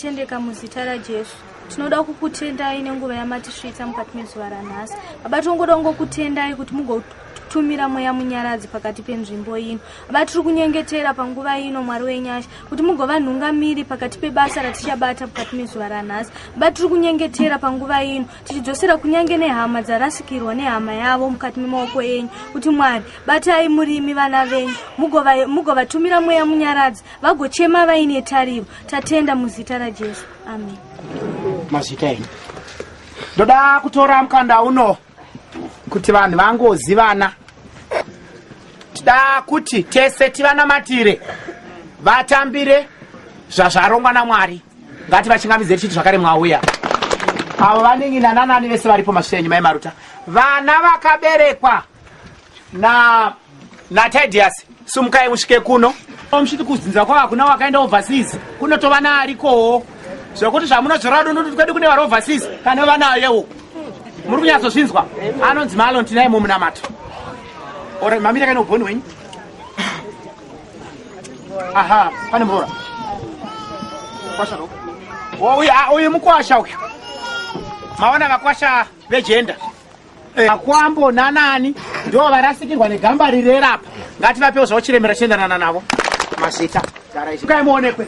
tendeka muzita rajesu tinoda kukutendai nenguva yamatisvitsa mukati mezuva ranhasi baba tinongoda kungokutendai kuti mugotumira mweya munyaradzi pakati penzvimbo ino baba tiri kunyengetera panguva ino mwari wenyasha kuti mugova nhungamiri pakati pebasa ratichabata mukati mezuva ranhasi baba tiri kunyengetera panguva ino tichidzosera kunyange nehama dzarasikirwa nehama yavo mukati memaoko enyu kuti mwari batai murimi vana venyu mugovatumira mweya munyaradzi vagochema vaine tariro tatenda muzita rajesu amen mazita enyu ndoda kutora mukanda uno kuti vanhu vangozivana tida kuti tese tivanamatire vatambire zvazvarongwa namwari ngati vachingamidze tichiti zvakare mwauya avo vanini nananani vese varipo mashiri enyu mai maruta vana vakaberekwa na natidius sumukai musvike kuno muchiti kudzinza kwava kuna wakaenda overseas kunotova naarikowo zvekuti zvamunozvora dunduti kwedu kune vari overseas kana vanayewo muri kunyatsozvinzwa anonzi maalon tinaye mumunamato Ora mamira kana uboni wenyu. Aha, pane mvura. Kwasha ro. Oye, oye mukwasha uyu. Maona vakwasha vejenda. Eh. Akwambo nanani ndo varasikirwa negamba rirera apa. Ngati vapewo zvauchiremera chiendanana navo. Mazita. Gara izvi. Kai muonekwe.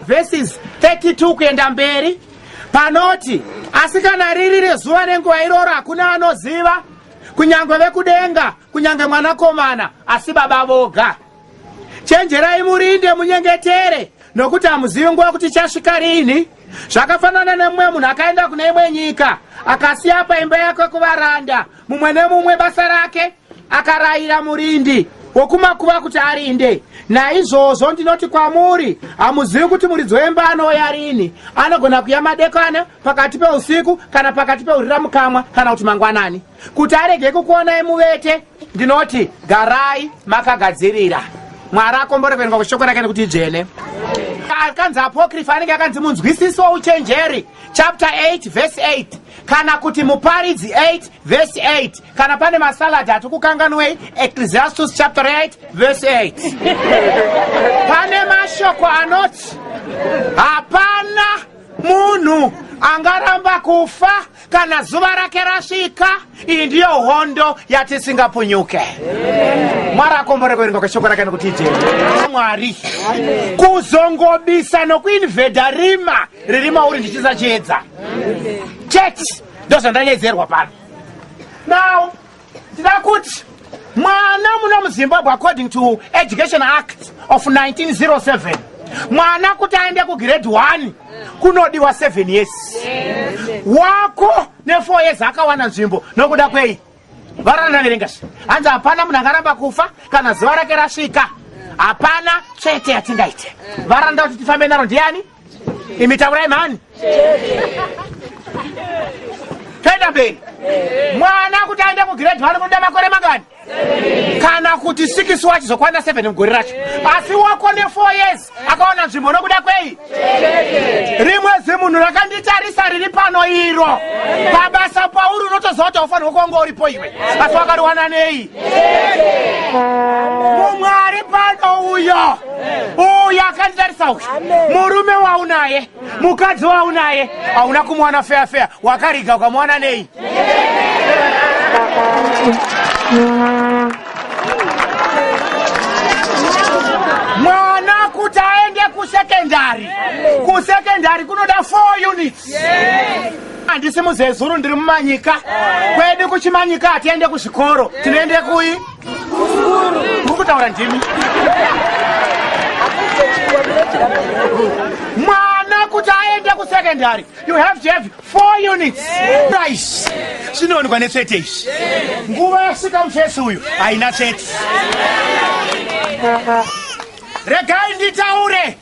Verses 32 kuenda mberi panoti asikana riri rezuva nenguva iroro hakuna anoziva Kunyangwe vekudenga, kunyange mwanakomana, asi baba voga. Chenjerai murinde munyengetere, nokuti hamuzivi nguva kuti chasvika rini. Zvakafanana nemumwe munhu akaenda kune imwe nyika, akasiya paimba yake kuvaranda, mumwe nemumwe basa rake, akarayira murindi wokumakuva kuti arinde. Naizvozvo ndinoti kwamuri, hamuzivi kuti muridzi wemba anouya rini, anogona kuya madekwana pakati peusiku kana pakati peurira mukamwa kana kuti mangwanani kuti arege kukuonai muvete ndinoti garai makagadzirira mwari akomboreverwa kushoko rake nekuti idzvene akanzi apokrifa anenge akanzi munzwisisi wouchenjeri chapter 8 verse 8 kana kuti muparidzi 8 verse 8 kana pane masaladi ati kukanganwei ecclesiastus chapter 8 verse 8 pane mashoko anoti hapana munhu angaramba kufa kana zuva rake rasvika iyi ndiyo hondo yatisingapunyuke mwari akombore kuverenga kweshoko rake nekuti ijee mwari kuzongobisa nokuinvhedha rima riri mauri ndichiisa chiedza chete ndozvandanyedzerwa pano now ndida kuti mwana muno muzimbabwe according to education act of 1907 mwana kuti aende kugrade 1 kunodiwa 7 years wako ne4 years akawana nzvimbo nokuda kwei varana verengashi hanzi hapana munhu angaramba kufa kana zuva rake rasvika hapana chete yatingaite varanda kuti tifambe naro ndiani imi taurai mhani toenda mberi mwana kuti aende kugrade one kunoda makore mangani kana kuti sikisi wachizokwana seven mugore racho asi wako nefour years akaona nzvimbo nokuda kwei rimwe zimunhu rakanditarisa riri pano iro pabasa pauri unotoziva kuti aufanirwa kuwanga uripo iwe asi wakariwana nei mumwari pano uyo uyo akanditarisa uyu murume waunaye mukadzi waunaye hauna kumuwana feya feya wakariga ukamuwana nei mwana kuti aende kusekendari kusekendari kunoda 4 units yes. handisi muzezuru ndiri mumanyika kwedu kuchimanyika hatiende kuzvikoro tinoende kuyi uri kutaura ndimi mwana kuti aende kusecondary you have to have four units price zvinoonekwa netsvete izvi nguva yasvika mufesi uyu haina tsvete regai nditaure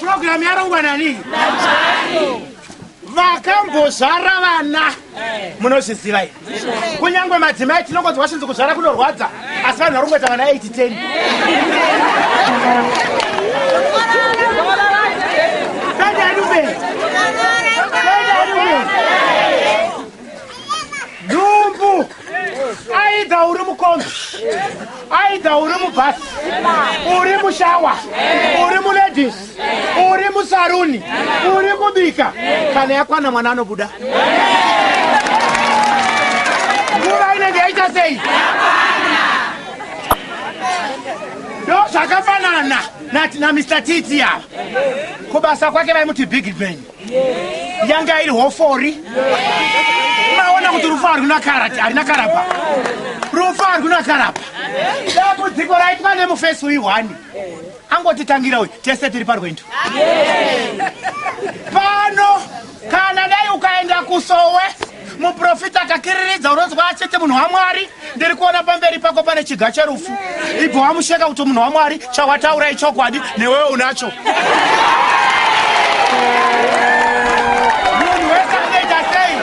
Program yarongwa nani? Vakambozvara vana munozviziva here? Kunyangwe madzimai tinongonzwa vachinzi kuzvara kunorwadza asi vanhu varongwa tavana 8 10. aidha uri mukombi aidha uri mubhasi uri mushawa uri muledis uri musaruni uri kubika kana yakwana mwana anobuda nguva inenge yaita sei ndo zvakafanana nati namr titi ava kubasa kwake vaimuti big ben yanga iri hofori maona kuti rufu harina karati harina karapa rufu harina karapa dambudziko raitwa nemufesi uyu hwani angotitangira uyu tese tiri parwendo pano kana dai ukaenda kusowe muprofita akakiriridza unonzwa achete munhu wamwari ndiri kuona pamberi pako pane chiga cherufu ibva wamusheka kuti munhu wamwari chawataura ichokwadi newewe unacho munhu wese anoita sei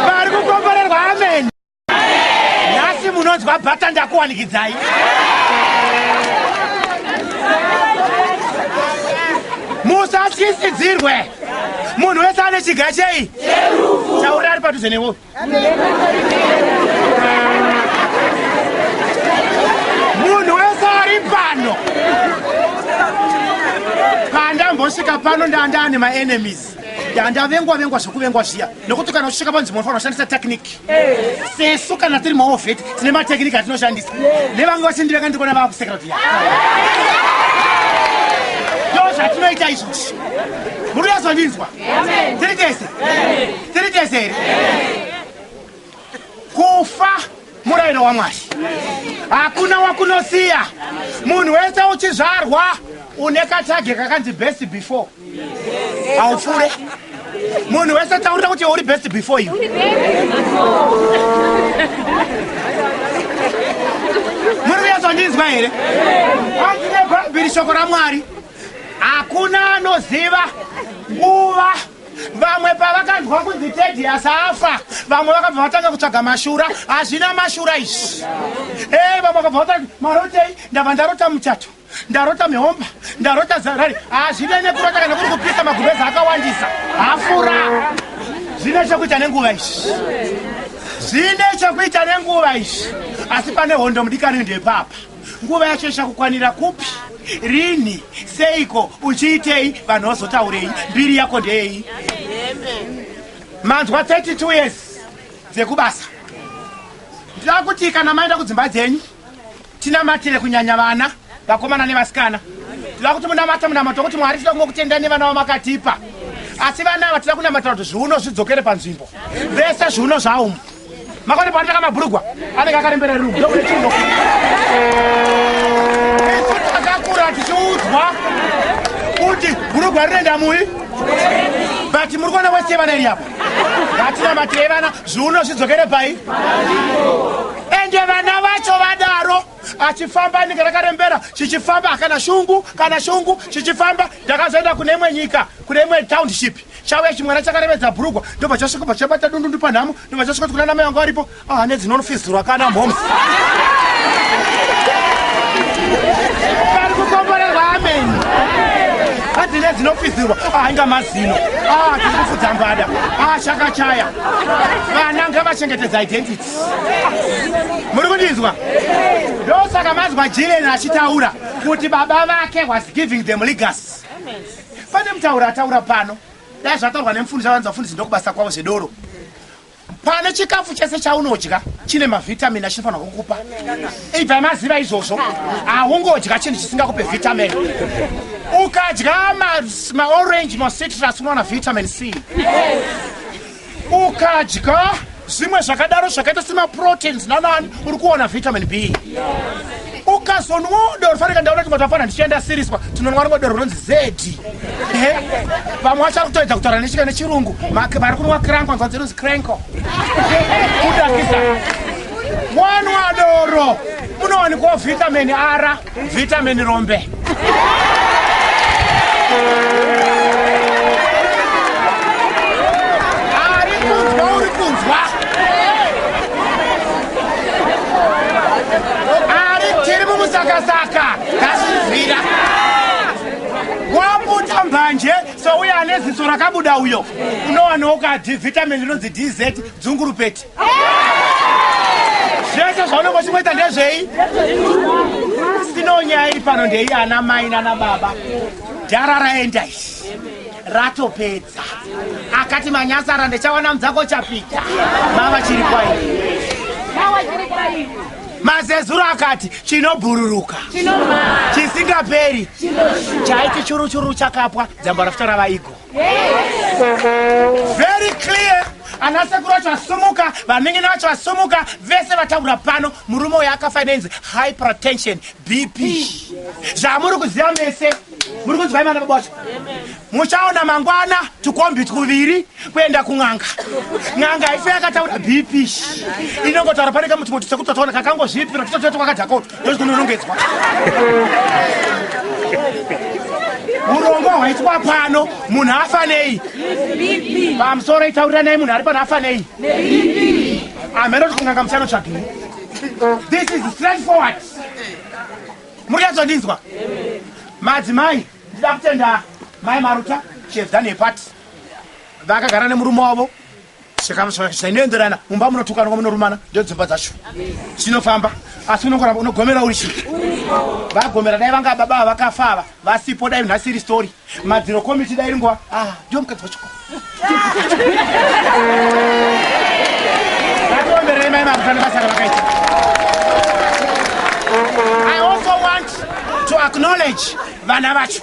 vari kukomborerwa ameni nhasi munonzwa bhata ndakuwanikidzai musatyisidzirwe munhu wese ane chiga chei chauri ari padhuze newo munhu wese ari pano pandambosvika pano ndandane maenemies ndavengwa vengwa zvekuvengwa zviya nokuti kana uchisvika panzvimbo unofanira kushandisa tekiniki sesu kana tiri maovheti tine matekiniki atinoshandisa nevange vachindivenga ndikona vakusekera viya ndo zvatinoita izvozvi muri yazondinzwa tiri tese tiri tese here kufa murairo wamwari hakuna wakunosiya munhu wese uchizvarwa une katage kakanzi best before haupfure munhu wese taurira kuti uri best before you muri kuyazondinzwa here anzi nebhaibheri shoko ramwari hakuna anoziva nguva Vamwe pavakanzwa kunzi Tedious afa, vamwe vakabva vatanga kutsvaga mashura. Hazvina mashura izvi. Eh, vamwe vakabva vatanga marotei, ndabva ndarota muchato, ndarota mihomba, ndarota zarari. Hazvina nekurota kana kuri kupisa magubeza akawandisa. Hafura. Zvine chokuita nenguva izvi. Zvine chokuita nenguva izvi. Asi pane hondo mudikani ndepapa. nguva yacho ichakukwanira kupi rinhi seiko uchiitei vanhu vazotaurei mbiri yako ndeyei manzwa 32 years dzekubasa ndinoda kuti kana maenda kudzimba dzenyu tinamatire kunyanya vana vakomana nevasikana tinoda kuti munamata munamato kuti mwari tinoda kungokutenda nevana vamakatipa asi vana ava tinoda kunamatira kuti zviuno zvidzokere panzvimbo vese zviuno zvaumu Makoni pano taka mabrugwa anenge akarembera rumu ndokune chimbo takakura tichiudzwa kuti brugwa rinoenda mui but muri kuona wese yevana iri apa hatina mati yevana zviuno zvidzokere pai ende vana vacho vadaro achifamba ninge rakarembera chichifamba kana shungu kana shungu chichifamba ndakazoenda kune imwe nyika kune imwe township chauya chimwana chakarevedza bhurugwa ndobva chasvika bva chabata dundundu panhamo ndobva chasvika tikuna namai vangu varipo ah, ane dzinonofizirwa kana mhoms ari kukomborerwa ameni adzine dzinofizirwa ainga ah, mazino ah, tiri kufudza mbada ashakachaya vana ngavachengetedza identity muri kundinzwa ndosaka mazwa jileni achitaura kuti baba vake was giving them legas Pane mutaura ataura pano. Dai zvataurwa nemufundisi avanzi vafundisi ndokubasa kwavo zvedoro. Pane chikafu chese chaunodya chine mavitamin achinofanirwa kukupa. Ibva maziva izvozvo. Haungodya chinhu chisingakupe vitamin. Ukadya ma, ma orange, ma citrus unowana vitamin C. Yes. ukadya zvimwe zvakadaro zvakaita semaproteins nanani uri kuona vitamin b ukazonwawo doro faneka ndaona kuti matafana ndichienda siriswa tinonwa rimwe doro rinonzi zedi vamwe vachari kutoedza kutaura nechika nechirungu vari kunwa cranko nzvanzi inonzi cranko kudakisa wanwa doro munowanikwawo vitamin ara Vitamin rombe. manje souya ane ziso rakabuda uyo unowanawo kadhi vitamin rinonzi dz dzungurupeti zvese zvaunenge uchingoita ndezvei sino nyaya iri pano ndei ana mai nana baba dhara raenda izvi ratopedza akati manyasara ndichawana mudzako chapita mava chiri kwaivi mazezuro akati chinobhururuka chisingaperi chaiti churuchuru chakapwa dzambo rafuta ravaigo very clear ana sekuru vacho vasumuka vaminini vacho vasumuka vese vataura pano murume uyo akafa inenzi high protension bp zvamuri kuziva mese muri kunzwai vana baba vacho muchaona mangwana tukombi twuviri kuenda kun'anga n'anga ife yakataura bp inongotaura pane kamuti muti sekuti tataona kakangozvipira totototi kwakadhakoto ndozvikunonongedzwa urongwa hwaitwa pano munhu afanei pamusoro itauriranai munhu ari pano afanei amhera kuti kunganga musano tsvagei this is straight forward muri yazondinzwa madzimai ndida kutenda mai maruta she has done a part vakagara nemurume wavo zvinoenderana mumba munotukanwa munorumana ndodzimba dzacho zvinofamba asi unongoramba unogomera uri chii vagomera dai vanga baba ava vakafa ava vasipo dai nhasi iri story madziro komiti dai ringuva ah, ndiwo mukadzi wacho vatoomberei mai makutana basa ravakaita i also want to acknowledge vana vacho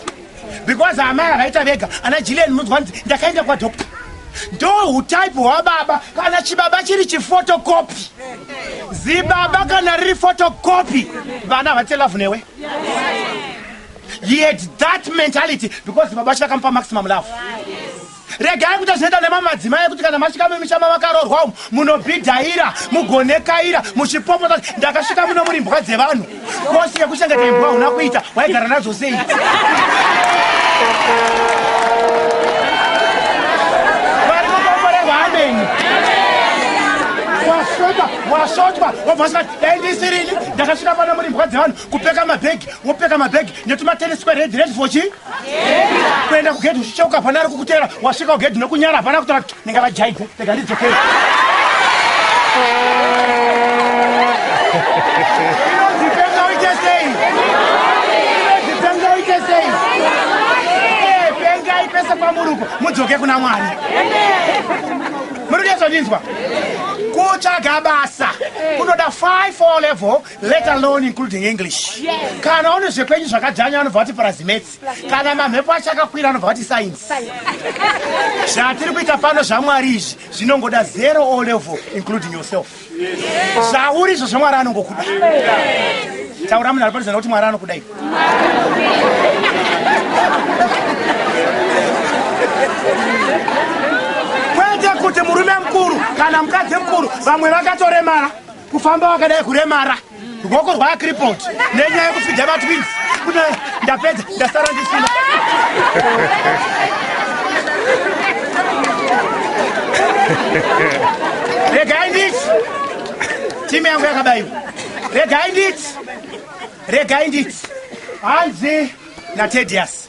because amai akaita vega ana jilian munzwa nzi ndakaenda kwadoctor ndo utype hwababa kana chibaba chiri chifotokopi zibaba kana riri fotokopi vana havati love newe he had that mentality because baba vacho vakamupa maximum love Regai kuita zvinoita nemamwe madzimai ekuti kana masvika mumisha mavakarorwa umu munobhidhaira mugonekaira muchipopota kuti ndakasvika muno muri mbwa dzevanhu. Kosi yekuchengeta imbwa hauna kuita waigara nadzo sei? Mwari mukomborerwa ameni. Wasvota, wasvotwa, wobva usati dai ndisirini ndakasvika pano muri mbwa dzevanhu kupeka mabhegi wopeka mabhegi netumatenesi kweredhi redhi for chii? kuenda kugedhi uchicheuka hapana ari kukutera wasvika kugedhi nokunyara hapana kutora kuti ndinga vajaidze rega ndidzokere pese kwamuruko mudzoke kuna mwari muri kuyezvandinzwa kutsvaga basa kunoda 5 o level let alone including english kana une zvekwenyu zvakadzvanya anobva vati purazimetsi kana mamhepo acho akakwira anobva vati sainsi zvatiri kuita pano zvamwari izvi zvinongoda zero o level including yourself zvauri izvo zvamwari anongokuda taura munhu ari parizana kuti mwari anokudai kwete kuti murume mukuru kana mukadzi mukuru vamwe vakatoremara kufamba wakadai kuremara rwoko rwaakripot nenyaya yekufidha vatwins kune ndapedza ndasara ndisina regai nditi timu yangu yakabaiwa regai nditi regai nditi hanzi natedius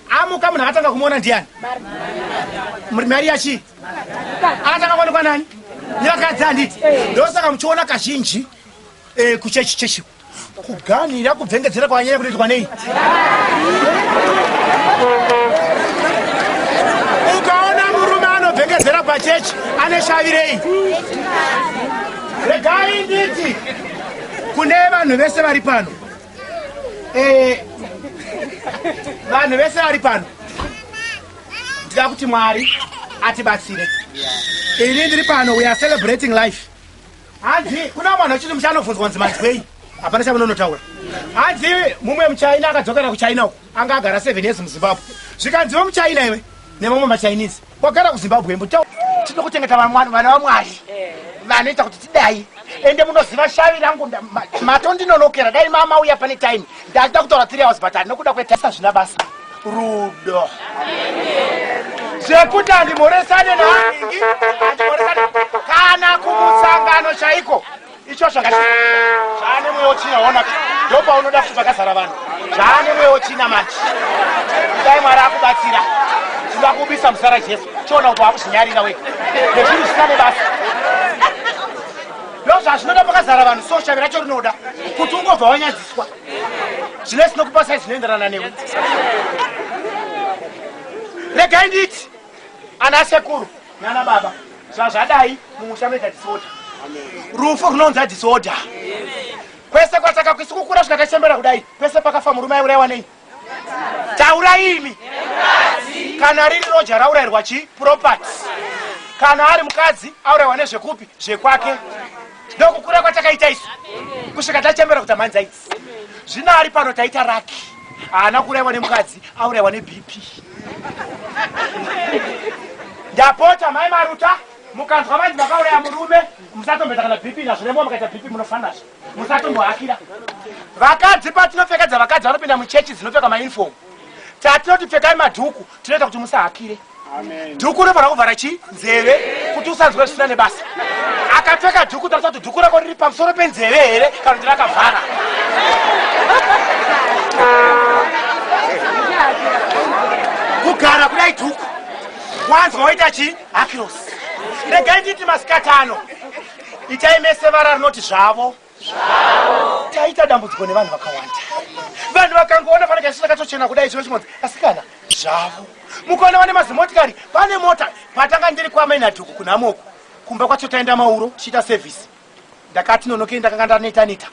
amuka munhu akatanga kumuona ndiani mari yachi akatanga kuonekwa nani nevakadzi handiti ndosaka muchiona kazhinji eh, kuchechi chechi kuganhira kubvengedzera kwanyanya kunoitwa nei ukaona murume anobvengedzera pachechi ane shavi rei regai nditi kune vanhu vese vari pano eh, vanhu vese vari pano ndida kuti mwari atibatsire ini ndiri pano we are celebrating life hanzi kuna mwana wechiti muchanobvunzwa nzi manzwei hapana chamunonotaura hanzi mumwe muchina akadzokera kuchina uku anga agara seven years muzimbabwe zvikanziva muchina iwe nemamwe machinese Wagara kuZimbabwe mbo chao tino kuchengeta vamwari vana vamwari eh. vanoita kuti tidai ende munoziva shavi rangu mato ndinonokera dai mama uya pane time ndachida kutaura three hours but ndinokuda kwetasa zvina basa rudo zvekuti andimhoresane naangi andimhoresane kana kumusangano chaiko ichocho zvaane mweya wechina ona ndopaunoda kuti pakazara vanhu zvaane mweya wechina manje dai mwari akubatsira tinoda kubisa muzara jesu chiona kuti wakuzvinyarira wega nezvinhu zvisina nebasa ndozvazvinoda pakazara vanhu so shavi racho rinoda kuti ungobva wanyadziswa zvine zvinokupasai zvinoenderana newe regai nditi ana sekuru nana baba zvazvadai mumusha mega disorder rufu runonza disorder kwese kwataka kwisi kukura zvikakachembera kudai kwese pakafa murume aiuraiwa nei taura imi kana riri roja raurairwa chi property kana ari mukadzi auraiwa nezvekupi zvekwake ndokukura kwatakaita isu kusvika tachembera kuti amhanza idzi zvino ari pano taita raki haana kuraiwa nemukadzi auraiwa nebp ndapota mai maruta mukanzwa vanzi vakauraya murume musatombeta kana bp nazvo nembo mukaita bp munofanazvo musatombohakira vakadzi patinopfekedza vakadzi vanopinda muchechi dzinopfeka mauniform tatinoti pfekai madhuku tinoita kuti musahakire dhuku unofanira kuvhara chii nzeve kuti usanzwe zvisina nebasa akapfeka dhuku tarisa kuti dhuku rako riri pamusoro penzeve here kana kuti rakavhara kugara kudai dhuku wanzwa waita chii hakirosi regai nditi masikatano itai mese vara rinoti zvavo taita dambudziko nevanhu vakawanda vanhu vakangoona pane kaisina katochena kudai chino chimonzi asikana zvavo mukaona vane mazimotikari pane mota patanga ndiri kwamainadhuku kunhamoku kumba kwacho taenda mauro tichiita sevhisi ndakati nonokei ndakanga ndaneta neta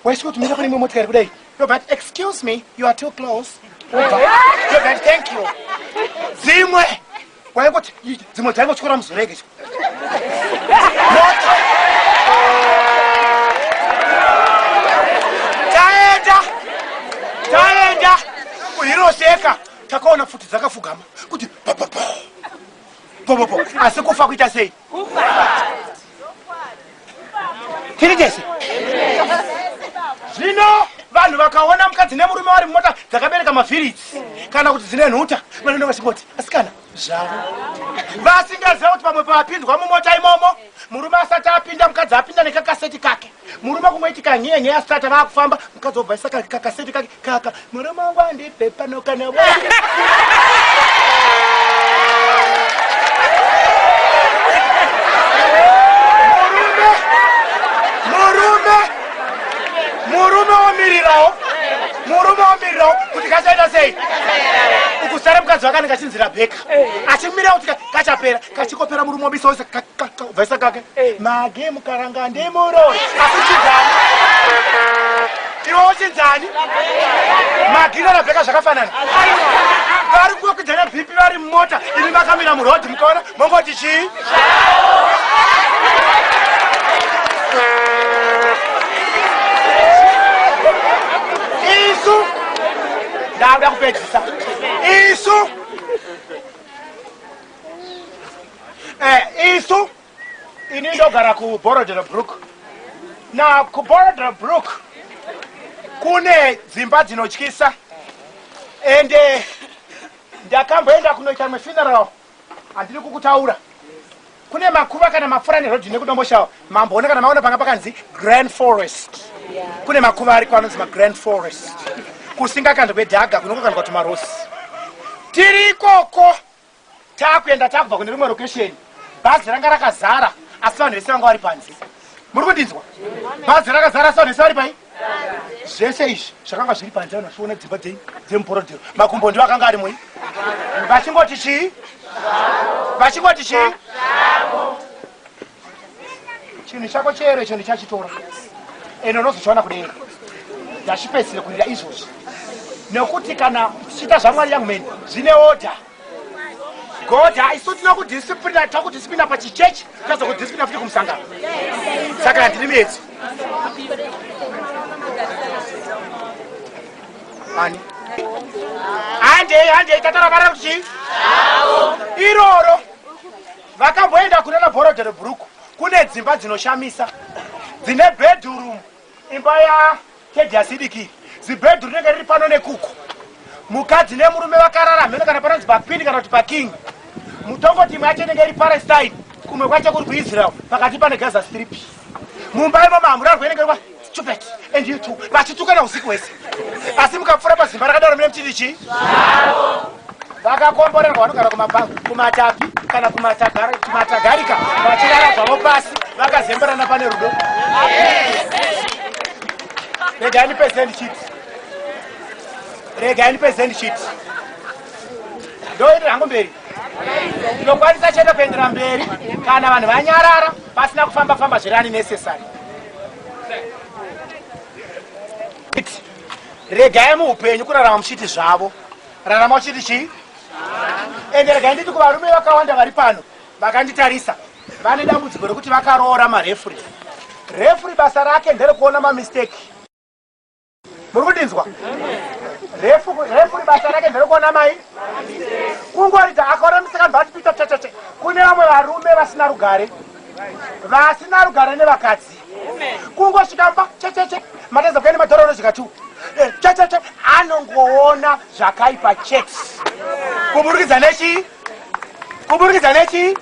waisiko tumira pane imwe motikari kudai robert excuse me you are too close robert thank you dzimwe waingoti dzimwe dzaingotyora muzorege cho taenda taenda kuhiroseka takaona pfuti dzakafugama kuti asi kufa kuita sei tiri tese zvino vanhu vakaona mukadzi nemurume vari mumota dzakabereka mavhiritsi kana kuti dzine nhuta vanoenda vachingoti asikana zvavo vasingaziva kuti pamwe pavapinzwa mumota imomo murume asati apinda mukadzi apinda nekakaseti kake murume kungoitika nyeya nyeya stata vakufamba mukadzi wobvaisa kakaseti kake kaka murume wangu andipe pano kana murume womirirawo murume womirirawo kuti kachaita sei ukusara mukadzi wakanenge achinzira bheka achimira kuti kachapera kachikopera murume wobisa wese vaisa kake eh. mage mukaranga ndimuro asi chinzani iwo chinzani magina rabheka zvakafanana vari kukwidza nebhipi vari mumota ini makamira murodhi mukaona mongoti chii isu ndakuda kupedzisa isu eh, isu ini ndogara kuborodero brook na kuborodero brook kune dzimba dzinotyisa ende eh, ndakamboenda kunoita mwe funeral handiri kukutaura kune makuva kana mapfura nerodhi nekudomboshawa mamboona kana maona panga pakanzi grand forest kune makuva ariko anonzi magrand forest kusingakandwe dhaga kunokokandwa tumarosi tiri ikoko takuenda takubva kune rimwe location bhazi ranga rakazara asi vanhu vese vanga vari panze muri kundinzwa bhazi rakazara asi vanhu vese vari pai zvese izvi zvakanga zviri panze vanhu vachiona dzimba dzenyu dzemuporodero makumbo ndiwo akanga ari mui vachingoti chii vachingoti chii chinhu chako chero icho ndichachitora ende unozochiwana kudenga ndachipedzisire kurira izvozvi nekuti kana tichiita zvamwari young man zvine order god haisu tinokudisiplina takudisiplina pachichechi tazokudisiplina futi kumusangano saka handiri miedzi ani handei handei tataravara kuti iroro Vakamboenda kune maborodhero bhuruku kune dzimba dzinoshamisa dzine bedhurumu imba ya tedhiasidiki zibhedhuru rinenge riri pano nekuku mukadzi nemurume vakarara mheno kana panonzi pakwini kana kuti paking mutongo timwe yacho inenge iri palestine kumwe kwacho kuri kuisrael pakati pane gaza strip mumba imo mambo rarwenengerwa stupid and you too vachitukana usiku hwese asi mukapfura pazimba rakadaro mine mchiti chii vakakomborerwa vanogara kumabhangu kumatapi kana kumatagarika vachirara zvavo pasi vakazemberana pane rudo regai ndipezeni chiti regai ndipezeni chiti ndoende hangu mberi tinokwanisa chete kuendera mberi kana vanhu vanyarara pasina kufamba famba zviri ani necessary regai muupenyu kurarama muchiti zvavo rarama uchiti chii ende regai nditi kuvarume vakawanda vari pano vakanditarisa vane dambudziko rekuti vakaroora marefuri refuri basa rake nderekuona mamisteki muri kundinzwa refu refu ribasa rake nderokuona mai kungorita akaona musikana vati kuita checheche kune vamwe varume vasina rugare vasina rugare nevakadzi kungosvika mba checheche matadza kuya nemadhora unozvika tu eh, checheche anongoona zvakaipa chete kuburikidza nechii kuburikidza nechii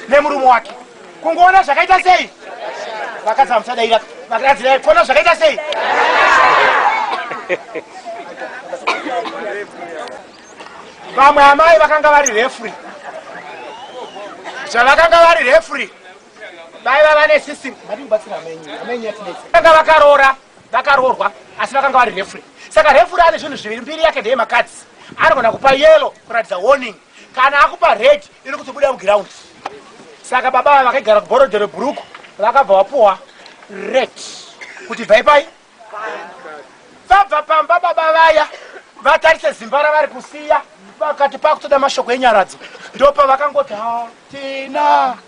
nemurume wake kungoona zvakaita sei vakadzi vamuchadaira vakadzi dai kuona zvakaita sei vamwe amai vakanga vari refri zvavakanga vari refri vaiva vane system vatibatsira amenyi amenyi yatinetsa vakaroora vakaroorwa asi vakanga vari refure saka refure ane zvinhu zviviri mbiri yake ndeye makadzi anogona kupa yelo kuratidza warning kana akupa red iri kutobuda muground saka baba ava vakaigara kuborodhe rebhuruku vakabva vapuwa red kuti bvai pai vabva pamba baba vaya vatarise zimba ravari kusiya vakati pakutoda mashoko enyaradzo ndopavakangoti hatina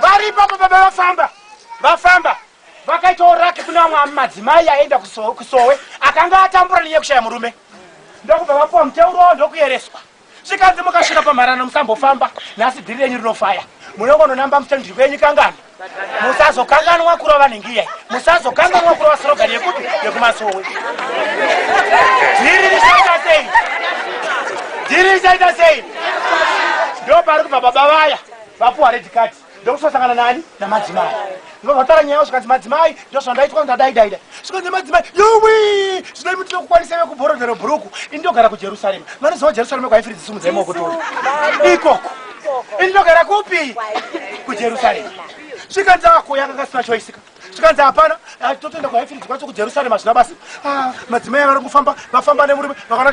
vari ipapo baba vafamba vafamba vakaitawo raki kuna vamwe madzimai aenda kusowe akanga atambura nenyaya kushaya murume ndokubva vapuwa muteuro ndokuyereswa zvikanzi mukasvika pamharano musambofamba nhasi dhiri renyu rinofaya munongononamba musitendiri kwenyu kangani musazokanganwa kurova nhingiya musazokanganwa kurova sirogari yekuti yekumasowe dhiri richaita sei dhiri richaita sei ndo pari kubva baba vaya vapuwa red card ndokusosangana nani namadzimai ndobva vatara nyaya zvikanzi madzimai ndozvandaitwa ndadaidaida svika nemadzimai yowi zvinoi mutino kukwanisa ve kubhorodhero bhuruku ini ndogara kujerusarema vanoziva jerusarema kwaifiri dzisumudza imo kutora ikoko ini ndogara kupi kujerusarema svika dzako yanga kasina choisika zvikanzi hapana ah, totoenda kwaifiridzwa kwacho kujerusarema hazvina basa ah, madzimai vari kufamba vafamba nemurume vakaona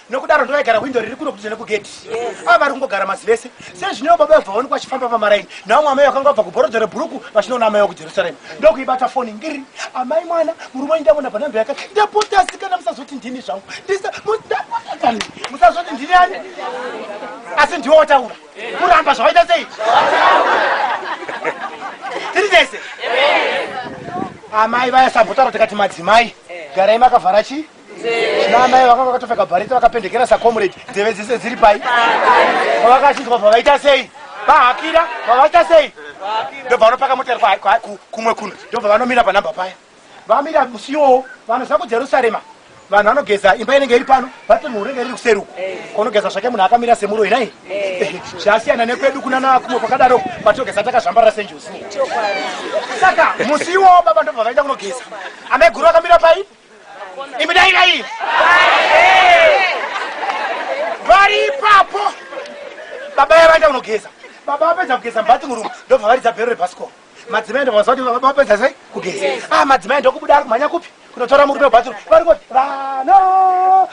nokudaro ndovaigara hwindo riri kuno kudidza nekugedhi ava vari kungogara masi vese sezvineo baba vabva vaonekwa vachifamba pamaraini navo mwamai vakanga vabva kubhorodha rebhuruku vachinoona amai vakujerusarema ndokuibata foni ngiri amai mwana murume wanyu ndamona panhambe yaka ndapotasi kana musazoti ndini zvangu ndisamudapotakani musazoti ndini ani asi ndiwo wataura kuramba zvawaita sei tiri tese amai vaya sambotaro tikati madzimai garai makavhara chii namai vakanga vakatopfeka bhareti vakapendekera sacomrade nzeve dzese dziri pai pavakachinzwa pavaita sei vahakira pavaita sei ndobva vanopaka motero kumwe kuno ndobva vanomira panhamba paya vamira musi iwowo vanoziva kujerusarema vanhu vanogeza imba inenge iri pano vati mhuru inenge riri kuseruku konogeza zvake munhu akamira semuroi nai zvasiyana nekwedu kuna nakumwe kwakadaro patogeza takazvambarira senjuzi saka musi iwowo baba ndobva vaenda kunogeza amaiguru vakamira pai imi dairai vari ipapo baba yava ita kunogeza baba vapedza kugeza mubati murumu ndobva varidza bhero rebhasikoro madzimai ndovazva kuti baba vapedza sei kugeza a ah, madzimai ndokubuda ari kumhanya kupi kunotora murume webathroom vari kuti vana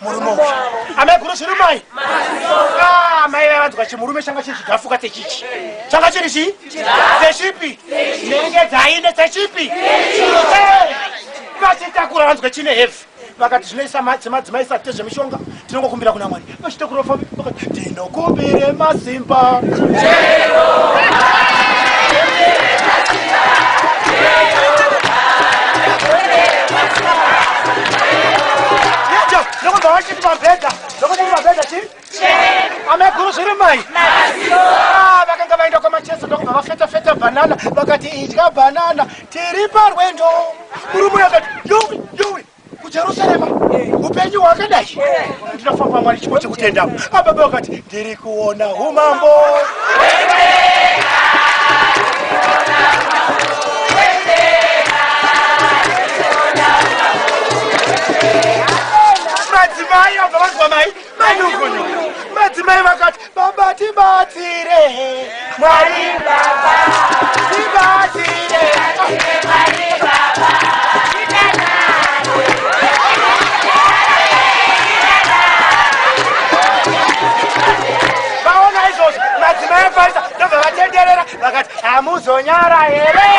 murume uyu amai guru zviri mai ah, mai vaya vanzwa chimurume changa chiri chigafuka techichi changa chiri chii techipi nenge dzaine techipi vachitakura vanzwa chine hevi vakati zvinoisa madzimai sati tezvemishonga tinongokumbira kuna mwari vachitakura vafambi vakati Nokubire masimba. ameguru zviri mai ah, vakanga vaenda kwamacheso ndokubva vafeta feta banana vakati idya banana tiri parwendo murume akati yowi yowi kujerusarema upenyu hwakadai ndinofamba mwari chipo chekutenda ababa vakati ndiri kuona umambo madzimai abva vanzwa mai Manyukunyuku. Madzimai vakati baba tibatsire. Mwari baba tibatsire. Mwari baba. Vaona izvozvo madzimai afarisa ndobva vatenderera vakati hamuzonyara here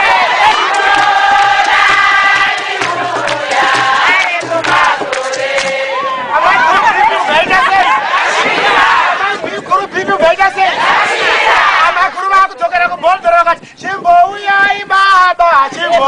amakuru vakudzokera kuboldora vakati chimbouyai baba chimbo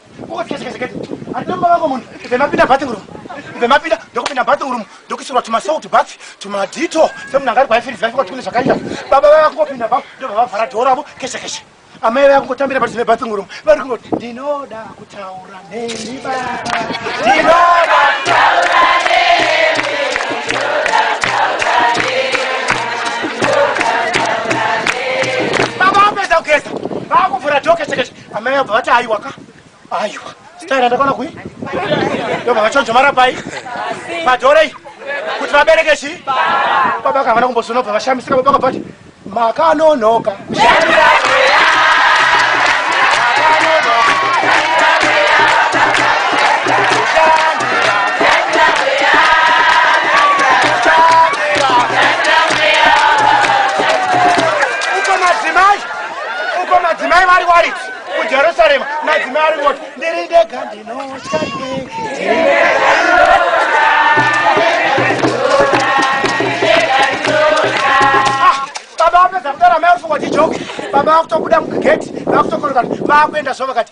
vemapinda bathing room vemapinda ndokupinda bathing room ndokuisirwa tumasalt bath tumadito semunhu anga ari kwaifirizi vaifika kuti kune zvakaita baba vaya kungopinda ba ndovavavhara dhoo ravo keshe keshe amai vaya kungotambira pati zvine bathing room vari kungoti ndinoda kutaura neni baba ndinoda kutaura baba vapedza kugeza vakuvhura dhoo keshe keshe Amai abva vati aiwa ka. Aiwa. Staira ndakaona kui. Ndobva vachonjo mara pai. Padorei. Kuti vabereke chi? Baba kavana kumbosono bva vashamisika baba kabati. Makanonoka. uko madzimai vari warit kujerusarema madzimai ari voti ndiri ndega ndinotya baba vapedza kudara mai rufu wachijoki baba vakutobuda mugegeti vakutokoroka vakuenda zvo vakati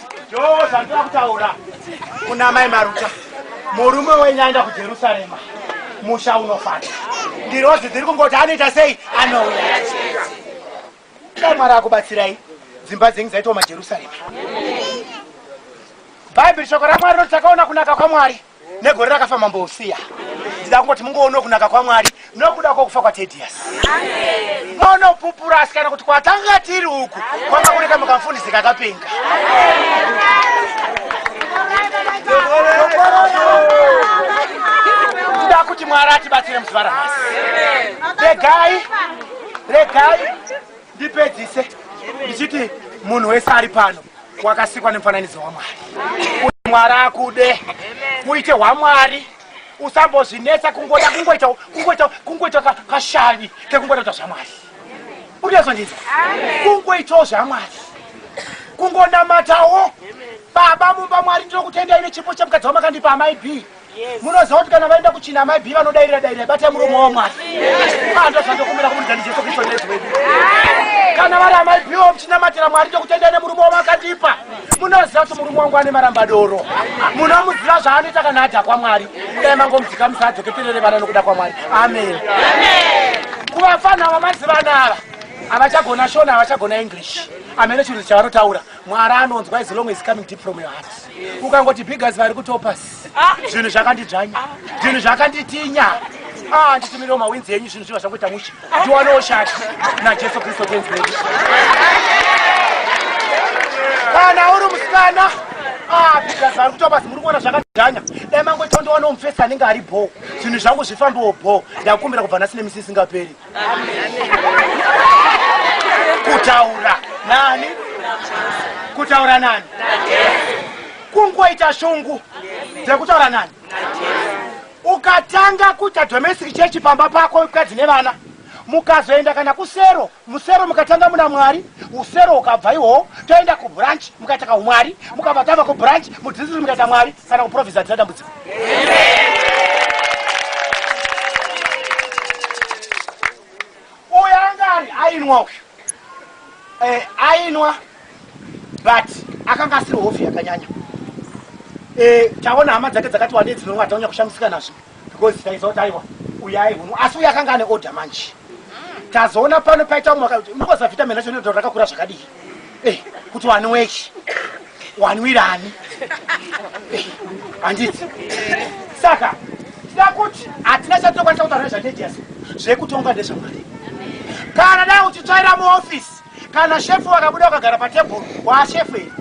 yoo zvandira kutaura kuna mai maruta murume wenyu aenda kujerusarema musha unofata ndirozi dziri kungoti anoita sei anouya dai mwari akubatsirai dzimba dzenyu dzaitoma jerusarema bhaibheri shoko ramwari roti takaona kunaka kwamwari negore rakafa mambo usiya ndida kungoti mungoono kunaka kwamwari nokuda kwokufa kwatedius monopupura asikana kuti kwatanga tiri uku kwanga kune kamwe kamfundisi kakapenga ndida kuti mwari atibatsire muzuva ramasi regai regai ndipedzise ndichiti munhu wese ari pano wakasikwa nemufananidzo wamwari kuti mwari akude uite hwamwari usambozvinetsa kungoda kungoita kungoita kungoita kashavi kekungoda kuita zvamwari unezondinzwa kungoitawo zvamwari kungonamatawo baba mumba mwari ndinokutendai nechipo chemukadzi wamakandipa amai b munoziva kuti kana vaenda kuchina amai bi vanodairira dairira batai muromo wavo mwari andozvandokumbira kumurikani jesu kristu nezi wedu kana vari amai bi wo muchinamatira mwari tokutendai nemurume wavo akandipa munoziva kuti murume wangu ane marambadoro munomuziva zvaanoita kana adha kwamwari kudai mangomudzika musadzoke terere vana nokuda kwamwari amen kuvafana vamaziva anava havachagona shona havachagona english amene chinhu chavanotaura mwari anonzwa is long is coming deep from your heart ukangoti bigas vari kutopas ah. zvinhu zvakandidzvanya zvinhu zvakanditinya ah, nditumirewo mawinzi enyu zvinhu zviva zvangoita mushe tiwanewo shati najesu kristu tenzi wedu kana uri musikana ah, bigas vari kutopas muri kuona zvaka danya dai mangoita kundiwana mufesi anenge ari bho zvinhu zvangu zvifambiwo bho ndakumbira kubva nhasi nemisi isingaperi kutaura nani kutaura nani kungoita shungu dzekutaura nani ukatanga kuita domestic chechi pamba pako mukadzi nevana mukazoenda kana kusero musero mukatanga muna mwari usero ukabva ihowo toenda kubranch mukaita kaumwari mukabva tava kubranch mudzidzisi mukaita mwari kana kuprovisa dzina dambudziko uyo anga ari ainwa uyu eh, ainwa but akanga asiri hofi yakanyanya eh, taona hama dzake dzakati wandei dzinonwa taunya kushamisika nazvo because taiziva kuti aiwa uyu aihunwa asi uyu akanga ane order manje tazoona pano paita umwe akati, "Mako zavitamin racho ndiro rakakura zvakadii eh, kuti wani wechi wani wirani eh, handiti saka tida kuti hatina chatokwanisa kutaura nezvatediasi zvekutonga ndezvamwari kana dai uchitsvaira muofisi kana shefu wakabuda wakagara patebhuru waashefu iri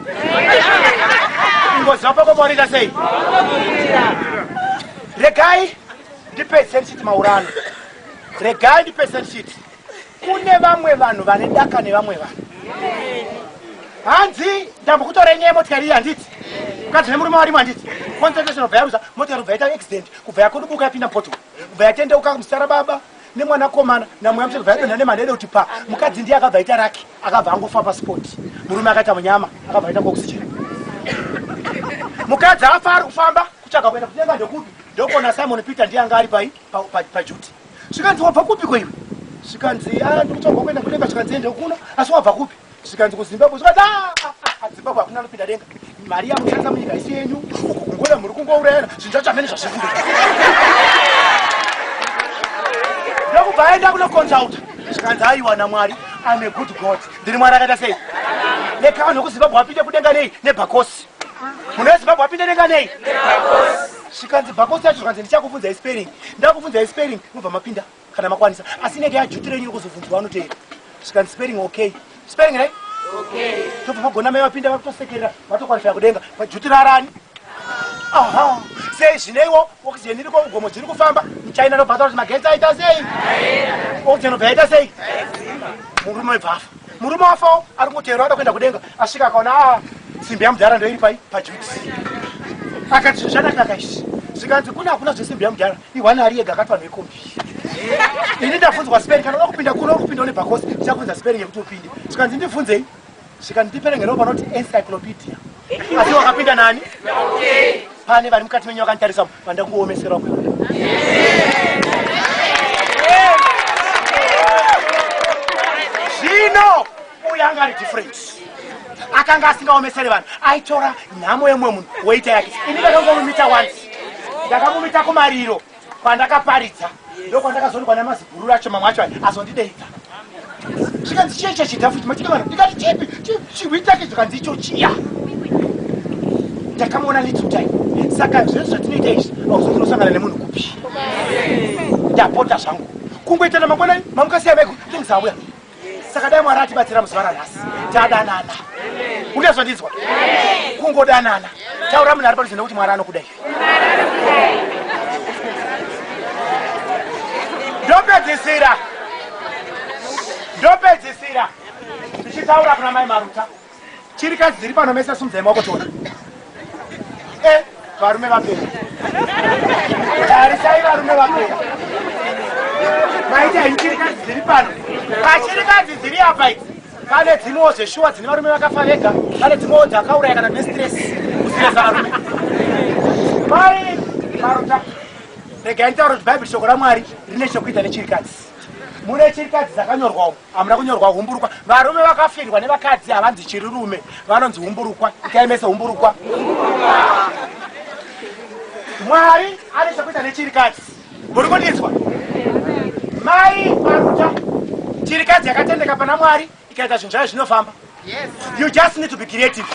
ingoziva pakomaonita sei regai ndipese ndichiti maurano regai ndipese ndichiti kune vamwe vanhu vane daka nevamwe vanhu hanzi ndambokutora inyaya yemotikari iyi handiti mukadzi nemurume warimo handiti concentration obva yaruza motikari ubva yaita accident kubva yakudubuka yapinda poto ubva yatendeuka musara baba nemwana komana namweya mutete ubva yadonha nemadede kuti pa mukadzi ndiye akabva aita raki akabva angofa paspot murume akaita munyama akabva aita kuoxygen mukadzi afa ari kufamba kutsvaga kuenda kudenga ndokupi ndokona simon peter ndiye anga ari pai pajuti pa, pa, pa zvikanzi wabva kupi ko iwe zvikanzi ah, ndikutsvagwa kuenda kudenga zvikanzi ende kuno asi wabva kupi zvikanzi kuzimbabwe zvikanzi ah, ah, zimbabwe hakuna anopinda denga mari yamushandisa munyika isi yenyu uku kungona muri kungourayana zvinhu zvacho hamene zvazviri kuda ndokubva aenda kunoconsulta zvikanzi aiwa namwari ame good god ndiri mwari akaita sei nekano kuzimbabwe apinde kudenga nei nebhakosi Munhu weZimbabwe apinda denga nei? Zvikanzi bhakosi yacho zvikanzi ndichakubvunzai spelling. Ndakubvunzai spelling mobva mapinda kana makwanisa. Asi inenge yajutura yenyu kuzobvunzwa anoteera. Zvikanzi spelling okay. Spelling right? Okay. Tobva magona mai vapinda vakutosekerera vatokwanisa kudenga. Vajutura arani. Aha. Sei zvineiwo oxygen iri kougomo dziri kufamba muchina nobvata kuti magetsi aita sei? Oxygen obva yaita sei? Murume bvafa. Murume wafawo ari kungoteerwa ada kuenda kudenga asvika akaona a ah, simbi yamudhara ndoiri pai pajuks akati zvinhu zvakanaka izvi zvikanzi kuna hakuna zvesimbi yamudhara ihwani ari yega akati vanhu vekombi ini ndafunzwa speri kana uda kupinda kuno kupinda une bhakosi ndichafunza speri yekuti upinde zvikanzi ndibvunzei zvikanzi ndiperengerawo panoti encyclopedia asi wakapinda nani pane vari mukati menyu vakanditarisa vanda kuomesera kwe zvino uyo anga ari different akanga asingaomesere vanhu aitora nhamo yemumwe munhu woita yake ini ndakamumita once ndakamumita kumariro pandakaparidza ndokwandakazoonekwa namazigururu acho mamwe acho azondideidza zvikanzi chiya icho chidhafu chimachida vanhu ndikati chipi chihwi chake zvikanzi icho chiya ndakamuona little time saka zvezvo zvatinoita izvi auzokunosangana nemunhu kupi ndapota zvangu kungoitana mangwanani mamukasiya meko things auya saka dai mwari atibatsira muzuva ranhasi tadanana uda zvandinzwa kungodanana taura munhu ari padhuze nekuti mwari anokuda iwe ndopedzisira ndopedzisira ndichitaura kuna mai maruta Chirikadzi dziri pano mese sumdzai maoko tona. Eh, varume vapera. Tarisai varume vapera. Maita chirikadzi dziri pano. Pachirikadzi dziri apa idzi. Pane dzimwewo zveshuwa dzine varume vakafa vega. Pane dzimwewo dzakauraya kana dzine stress. Kusiyaza varume. Mai Maruta. Regai nitaure kuti Bible shoko raMwari rine chokuita nechirikadzi. Mune chirikadzi dzakanyorwawo. hamuna kunyorwa humburukwa varume vakafirwa nevakadzi havanzi chirirume vanonzi humburukwa ikaemese humburukwa mwari ane chekuita nechirikadzi muri kundinzwa mai maruta chirikadzi yakatendeka pana mwari ikaita zvinhu zvayo zvinofamba Yes. You just need to be creative.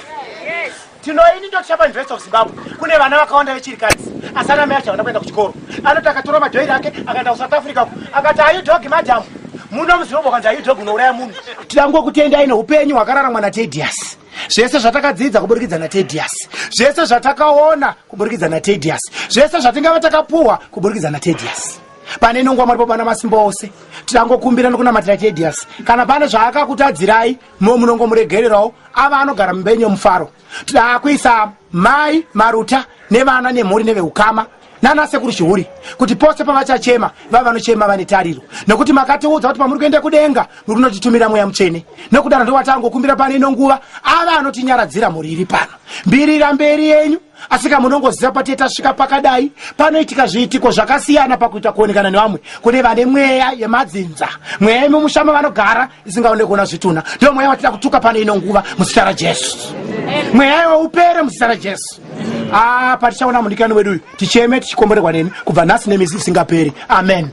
Yes. Tino ini ndo chapa invest of Zimbabwe. Kune vana vakawanda vechiri kadzi. Asana mai achaona kuenda kuchikoro. Anoti akatora madhoiri ake akaenda ku South Africa. Akati ayu dog madam. Muno muzirombo kanzi ayu dog unouraya munhu. Tidango kutenda ine upenyu hwakararamwa na Tedious. Zvese zvatakadzidza kuburikidza na Tedious. Zvese zvatakaona kuburikidza na Tedious. Zvese zvatingava takapuwa kuburikidza na Tedious. pane inongwa mwari popana masimba ose tirangokumbira nokunamatira tedius kana pane zvaakakutadzirai mo munongomuregererawo ava anogara mumba yenyu yomufaro taakuisa mai maruta nevana nemhuri neveukama nana sekuru chihuri kuti pose pavachachema vava vanochema vane tariro nokuti makatiudza kuti pamuri kuenda kudenga muri kunotitumira mweya mutsvene nokudaro ndowatangokumbira pane ino nguva ava anotinyaradzira mhuri iri pano mbirira mberi yenyu asika munongoziva patee tasvika pakadai panoitika zviitiko zvakasiyana pakuita kuonekana nevamwe kune vane mweya yemadzinza mweya yemumusha mavanogara isingaonde kuona zvitunha ndiyo mweya watida kutuka pane ino nguva muzita rajesu mweya iwe upere muzita rajesu a ah, patichaona mudikani wedu uyu ticheme tichikomborerwa nemi kubva nhasi nemisi isingaperi amen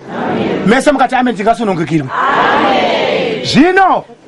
mese mukati amen tingasunungikirwa zvino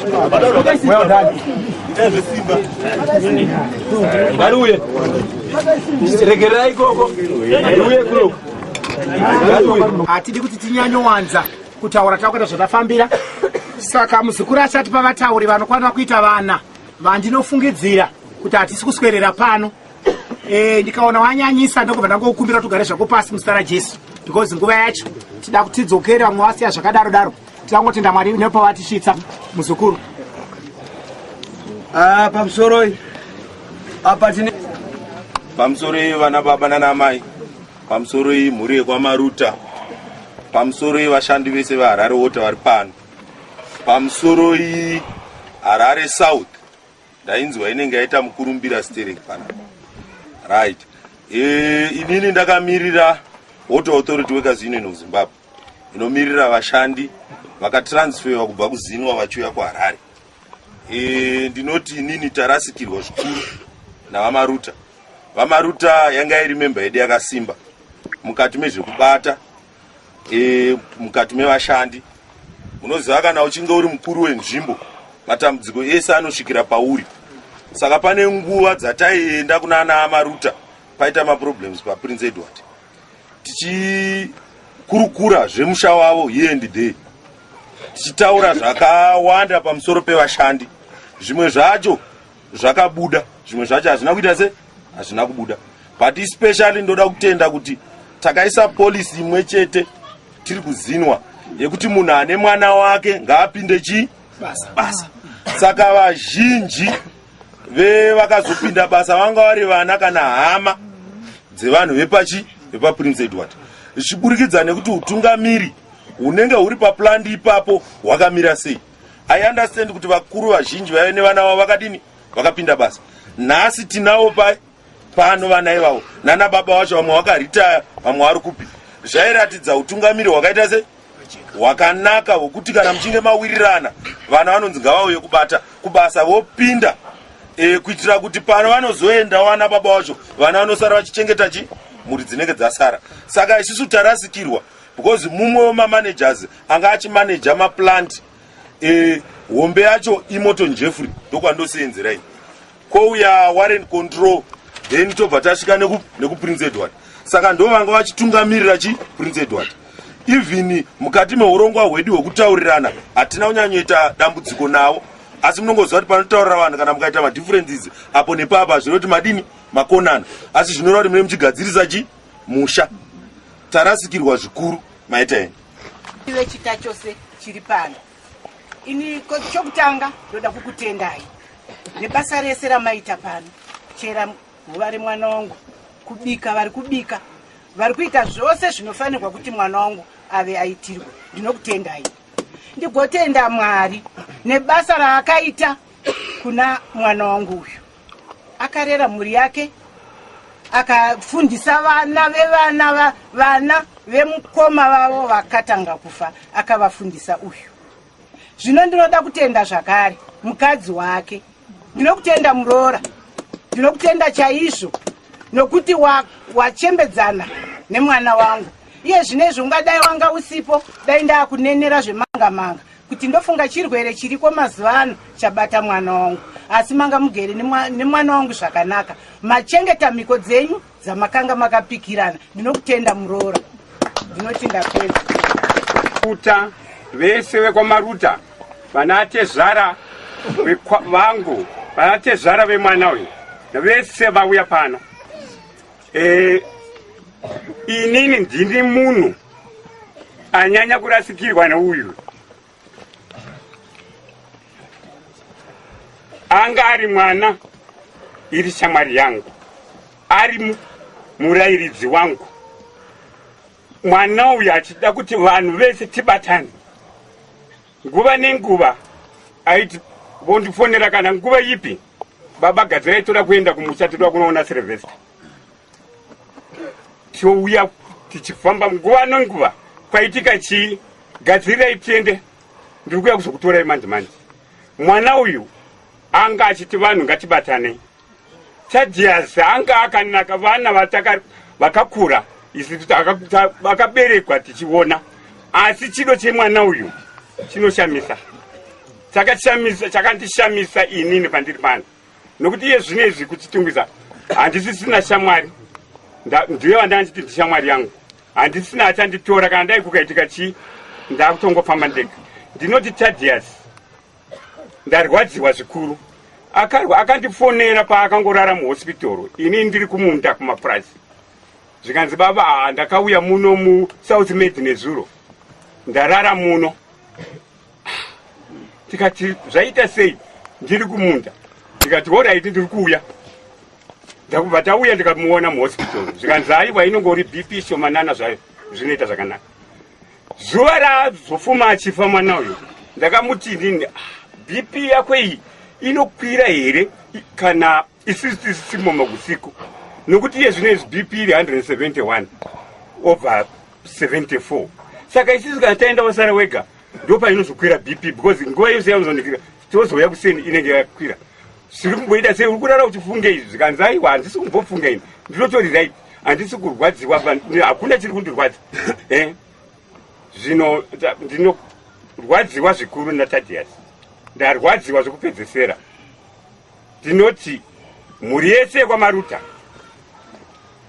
Well done. Ngariuye. Regerai ikoko. Ngariuye kuno. Ngariuye. Hatidi kuti tinyanyowanza kutaura takuita zvatafambira. Saka muzukuru achati pavatauri vanokwanira kuita vana vandinofungidzira kuti hatisi kuswerera pano. Eh, ndikaona wanyanyisa ndokubva ndangokumbira kuti ugare zvako pasi muzita rajesu because nguva yacho tida kuti tidzokere vamwe vasiya zvakadaro daro tida kungotenda mwari nepawatisvitsa muzukuru Ah, pamusoro iyi apa tine pamusoro iyi vana baba nanamai pamusoro iyi mhuri yekwamaruta pamusoro iyi vashandi vese veharare wota vari pano pamusoro iyi harare south ndainzwa inenge yaita mukurumbira stereki pana right e, inini ndakamirira water authority workers union of zimbabwe inomirira vashandi vakatransferwa kubva kuzinwa vachiuya kuharare e, ndinoti inini tarasikirwa zvikuru navamaruta vamaruta yanga iri memba yedu yakasimba mukati mezvekubata e, mukati mevashandi unoziva kana uchinge uri mukuru wenzvimbo matambudziko ese anosvikira pauri saka pane nguva dzataienda kuna ana amaruta paita maproblems paprince edward tichikurukura zvemusha wavo here and day tichitaura zvakawanda pamusoro pevashandi zvimwe zvacho zvakabuda zvimwe zvacho hazvina kuita se hazvina kubuda but especially ndoda kutenda kuti takaisa polisi imwe chete tiri kuzinwa yekuti munhu ane mwana wake ngaapinde chii basa, basa. saka vazhinji vevakazopinda basa vanga vari vana kana hama dzevanhu vepachi vepaprince edward zvichiburikidza nekuti utungamiri hunenge huri paplandi ipapo hwakamira sei i understand kuti vakuru vazhinji vaive nevana vavo vakadini vakapinda basa nhasi tinawo pa pano vana ivavo nana baba vacho vamwe vakaritaya vamwe vari kupi zvairatidza utungamiri hwakaita se hwakanaka hwekuti kana muchinge mawirirana vana vanonzi ngavauye kubata kubasa vopinda e, kuitira kuti pano vanozoenda wana baba wacho vana vanosara vachichengeta chi mhuri dzinenge dzasara saka isusu tarasikirwa because mumwe wemamanagers anga achimanaja maplant eh, hombe yacho imoton jeffrey ndokwandoseenzerai ino kwouya warren control then tobva tasvika nekuprince edward saka ndo vanga vachitungamirira chi prince edward even mukati meurongwa hwedu hwekutaurirana hatina kunyanyoita dambudziko navo asi munongoziva kuti panotaurira vanhu kana mukaita madifferences apo nepapa hazvino kuti madini makonana asi zvinoreva kuti mune muchigadzirisa chi musha tarasikirwa zvikuru maita eni ive chita chose chiri pano ini chokutanga ndoda kukutendai nebasa rese ramaita pano chera nguva remwana wangu kubika vari kubika vari kuita zvose zvinofanirwa kuti mwana wangu ave aitirwe ndinokutendai ndigotenda mwari nebasa raakaita kuna mwana wangu uyu akarera mhuri yake akafundisa vana vevana va, vana vemukoma vavo vakatanga kufa akavafundisa uyu zvino ndinoda kutenda zvakare mukadzi wake ndinokutenda muroora ndinokutenda chaizvo nokuti wachembedzana wa nemwana wangu iye zvino izvi ungadai wanga usipo dai ndaakunenera zvemangamanga kuti ndofunga chirwere chiriko mazuva ano chabata mwana wangu asi manga mugere nemwana wangu zvakanaka machengeta mhiko dzenyu dzamakanga makapikirana ndinokutenda muroora ndinoti ndapedza kuta vese vekwamaruta vanatezvara vangu vanatezvara vemwana uyu vese vauya pano Eh, inini ndini munhu anyanya kurasikirwa neuyu anga ari mwana iri shamwari yangu ari murayiridzi wangu mwana uyu achida kuti vanhu vese tibatane nguva nenguva aiti vondifonera kana nguva ipi baba gadzirai toda kuenda kumusha titoda kunoona sirivesta touya tichifamba nguva nenguva kwaitika chii gadzirai tiende ndiri kuya kuzokutorai manje manje mwana uyu anga achiti vanhu ngatibatanei Tadias anga akanaka vana vataka vakakura isu vakaberekwa tichiona asi chido chemwana uyu chinoshamisa chakashamisa chakandishamisa inini pandiri pano nokuti iye zvino izvi kuchitungisa handisisina shamwari ndiye vandanditi ndishamwari yangu handisina achanditora kana dai kukaitika chii ndakutongofamba ndega ndinoti tadias ndarwadziwa zvikuru akarwa akandifonera paakangorara muhospitoro ini ndiri kumunda kumapurazi zvikanzi baba aa ndakauya muno musouth med nezuro ndarara muno tikati zvaita sei ndiri kumunda ndikati horaiti ndiri kuuya ndakubva tauya ndikamuona muhospitoro zvikanzi aiwa inongori bp shomanana zvayo zvinoita zvakanaka zuva raazofuma achifa mwana uyo ndakamuti inini ah, bp yako iyi inokwira here kana isusu tisisimo makusiku nokuti iye zvino izvi bp iri 171 over 74 saka isusu kana taenda wasara wega ndopainozokwira bp because nguva yose yaunozonekira tozouya kuseni inenge yakwira zviri kumboita sei uri kurara uchifunga izvi zvikanzi aiwa handisi kumbofunga ini ndinotori right handisi kurwadziwa hakuna chiri kundirwadza eh? zvino ndinorwadziwa zvikuru natadias ndarwadziwa zvekupedzesera Tinoti mhuri yese yekwamaruta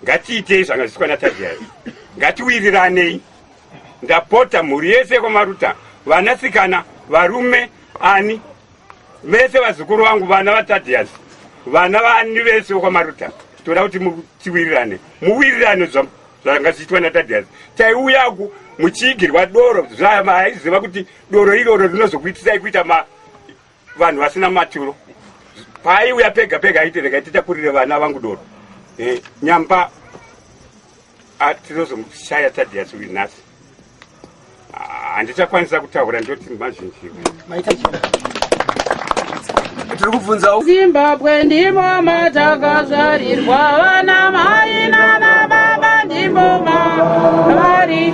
ngatiitei zvanga zviswa natadiyai ngatiwiriranei ndapota mhuri yese yekwamaruta vanasikana varume ani vese vazukuru vangu vana vatadiyasi vana vaani vese vekwamaruta toda kuti tiwirirane muwirirane zvanga zvichiitwa natadiyasi taiuyaku muchiigirwa doro zvavaiziva kuti doro iroro rinozokuitisai kuita ma vanhu vasina maturo paaiuya pega pega aiti regai titakurire vana vangu doro eh, nyamba ah, tinozomushaya tadiyasi uyu nhasi ah, handichakwanisa kutaura ndoti mazhinji tiri kubvunzawo zimbabwe ndimo matakazvarirwa vana mai nana baba ndimo mavari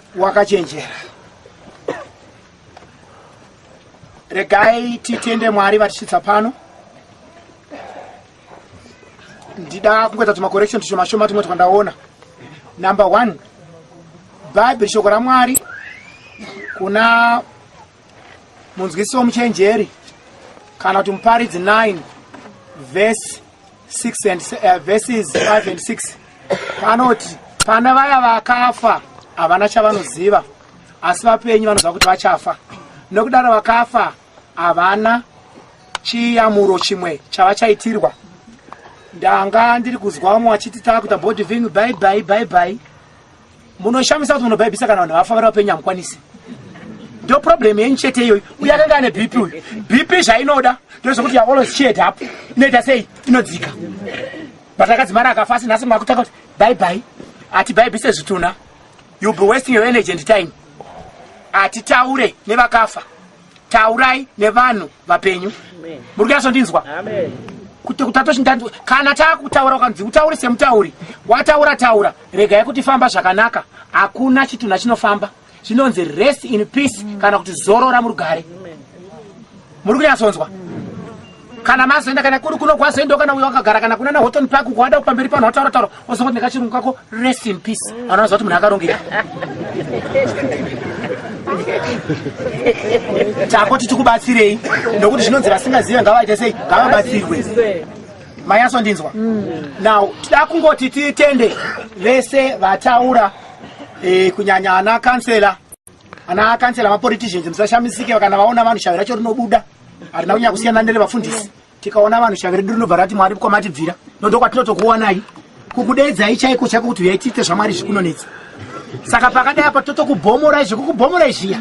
wakachenjera regai titende mwari vatisvitsa pano ndida kungoita tumacorrection tushoma shoma tumwe twandaona number one bhaibheri shoko ramwari kuna munzwisi womuchenjeri kana kuti muparidzi 9 vhesi 6 and uh, verses 5 and 6 panoti pana vaya vakafa havana chavanoziva asi vapenyu vanoziva kuti vachafa nokudaro vakafa havana chiyamuro chimwe chavachaitirwa ndanga ndiri kuzwa umwe wachiti taakuita bodiving bye bye bye bye munoshamisa kuti munobhaibhisa kana vanhu vafa vari vapenyu hamukwanisi ndo problem yenyu chete iyoyo uye akanga ane bp uyu bp zvainoda ndozvekuti ya always cheered up inoita sei inodzika but akadzimara akafa asi nhasi makutanga kuti bye bye hatibhaibhise zvitunha youll be wasting your energy and time hatitaure nevakafa taurai nevanhu vapenyu muri kuyasondinzwa kuti kutatoshindanzwa kana taakutaura ukanzi utauri semutauri wataura taura regai kuti famba zvakanaka hakuna chitunha chinofamba chinonzi rest in peace kana kuti zorora murugare muri kunyatsonzwa kana mazoenda kana kuri kuno kwazoenda kana uyo wakagara kana kuna nahoton park uko wada kupamberi pano wataura taura wozongoti nekachirungu kako rest in peace anonoziva kuti munhu akarongeka chako tichikubatsirei nokuti zvinonzi vasingazive ngavaite sei ngavabatsirwe manyaso ndinzwa mm. now tida kungoti titende vese vataura eh, kunyanya ana kansela ana kansela mapoliticians musashamisike kana vaona vanhu shavi racho rinobuda harina kunyanya kusiyana nerevafundisi tikaona vanhu shavi redu rinobva rati mwari kwamatibvira nondo kwatinotokuonai kukudedzai chaiko chako kuti uyai tiite zvamwari zvikunonetsa saka pakadai apa totokubomorai zvekukubomorai zviya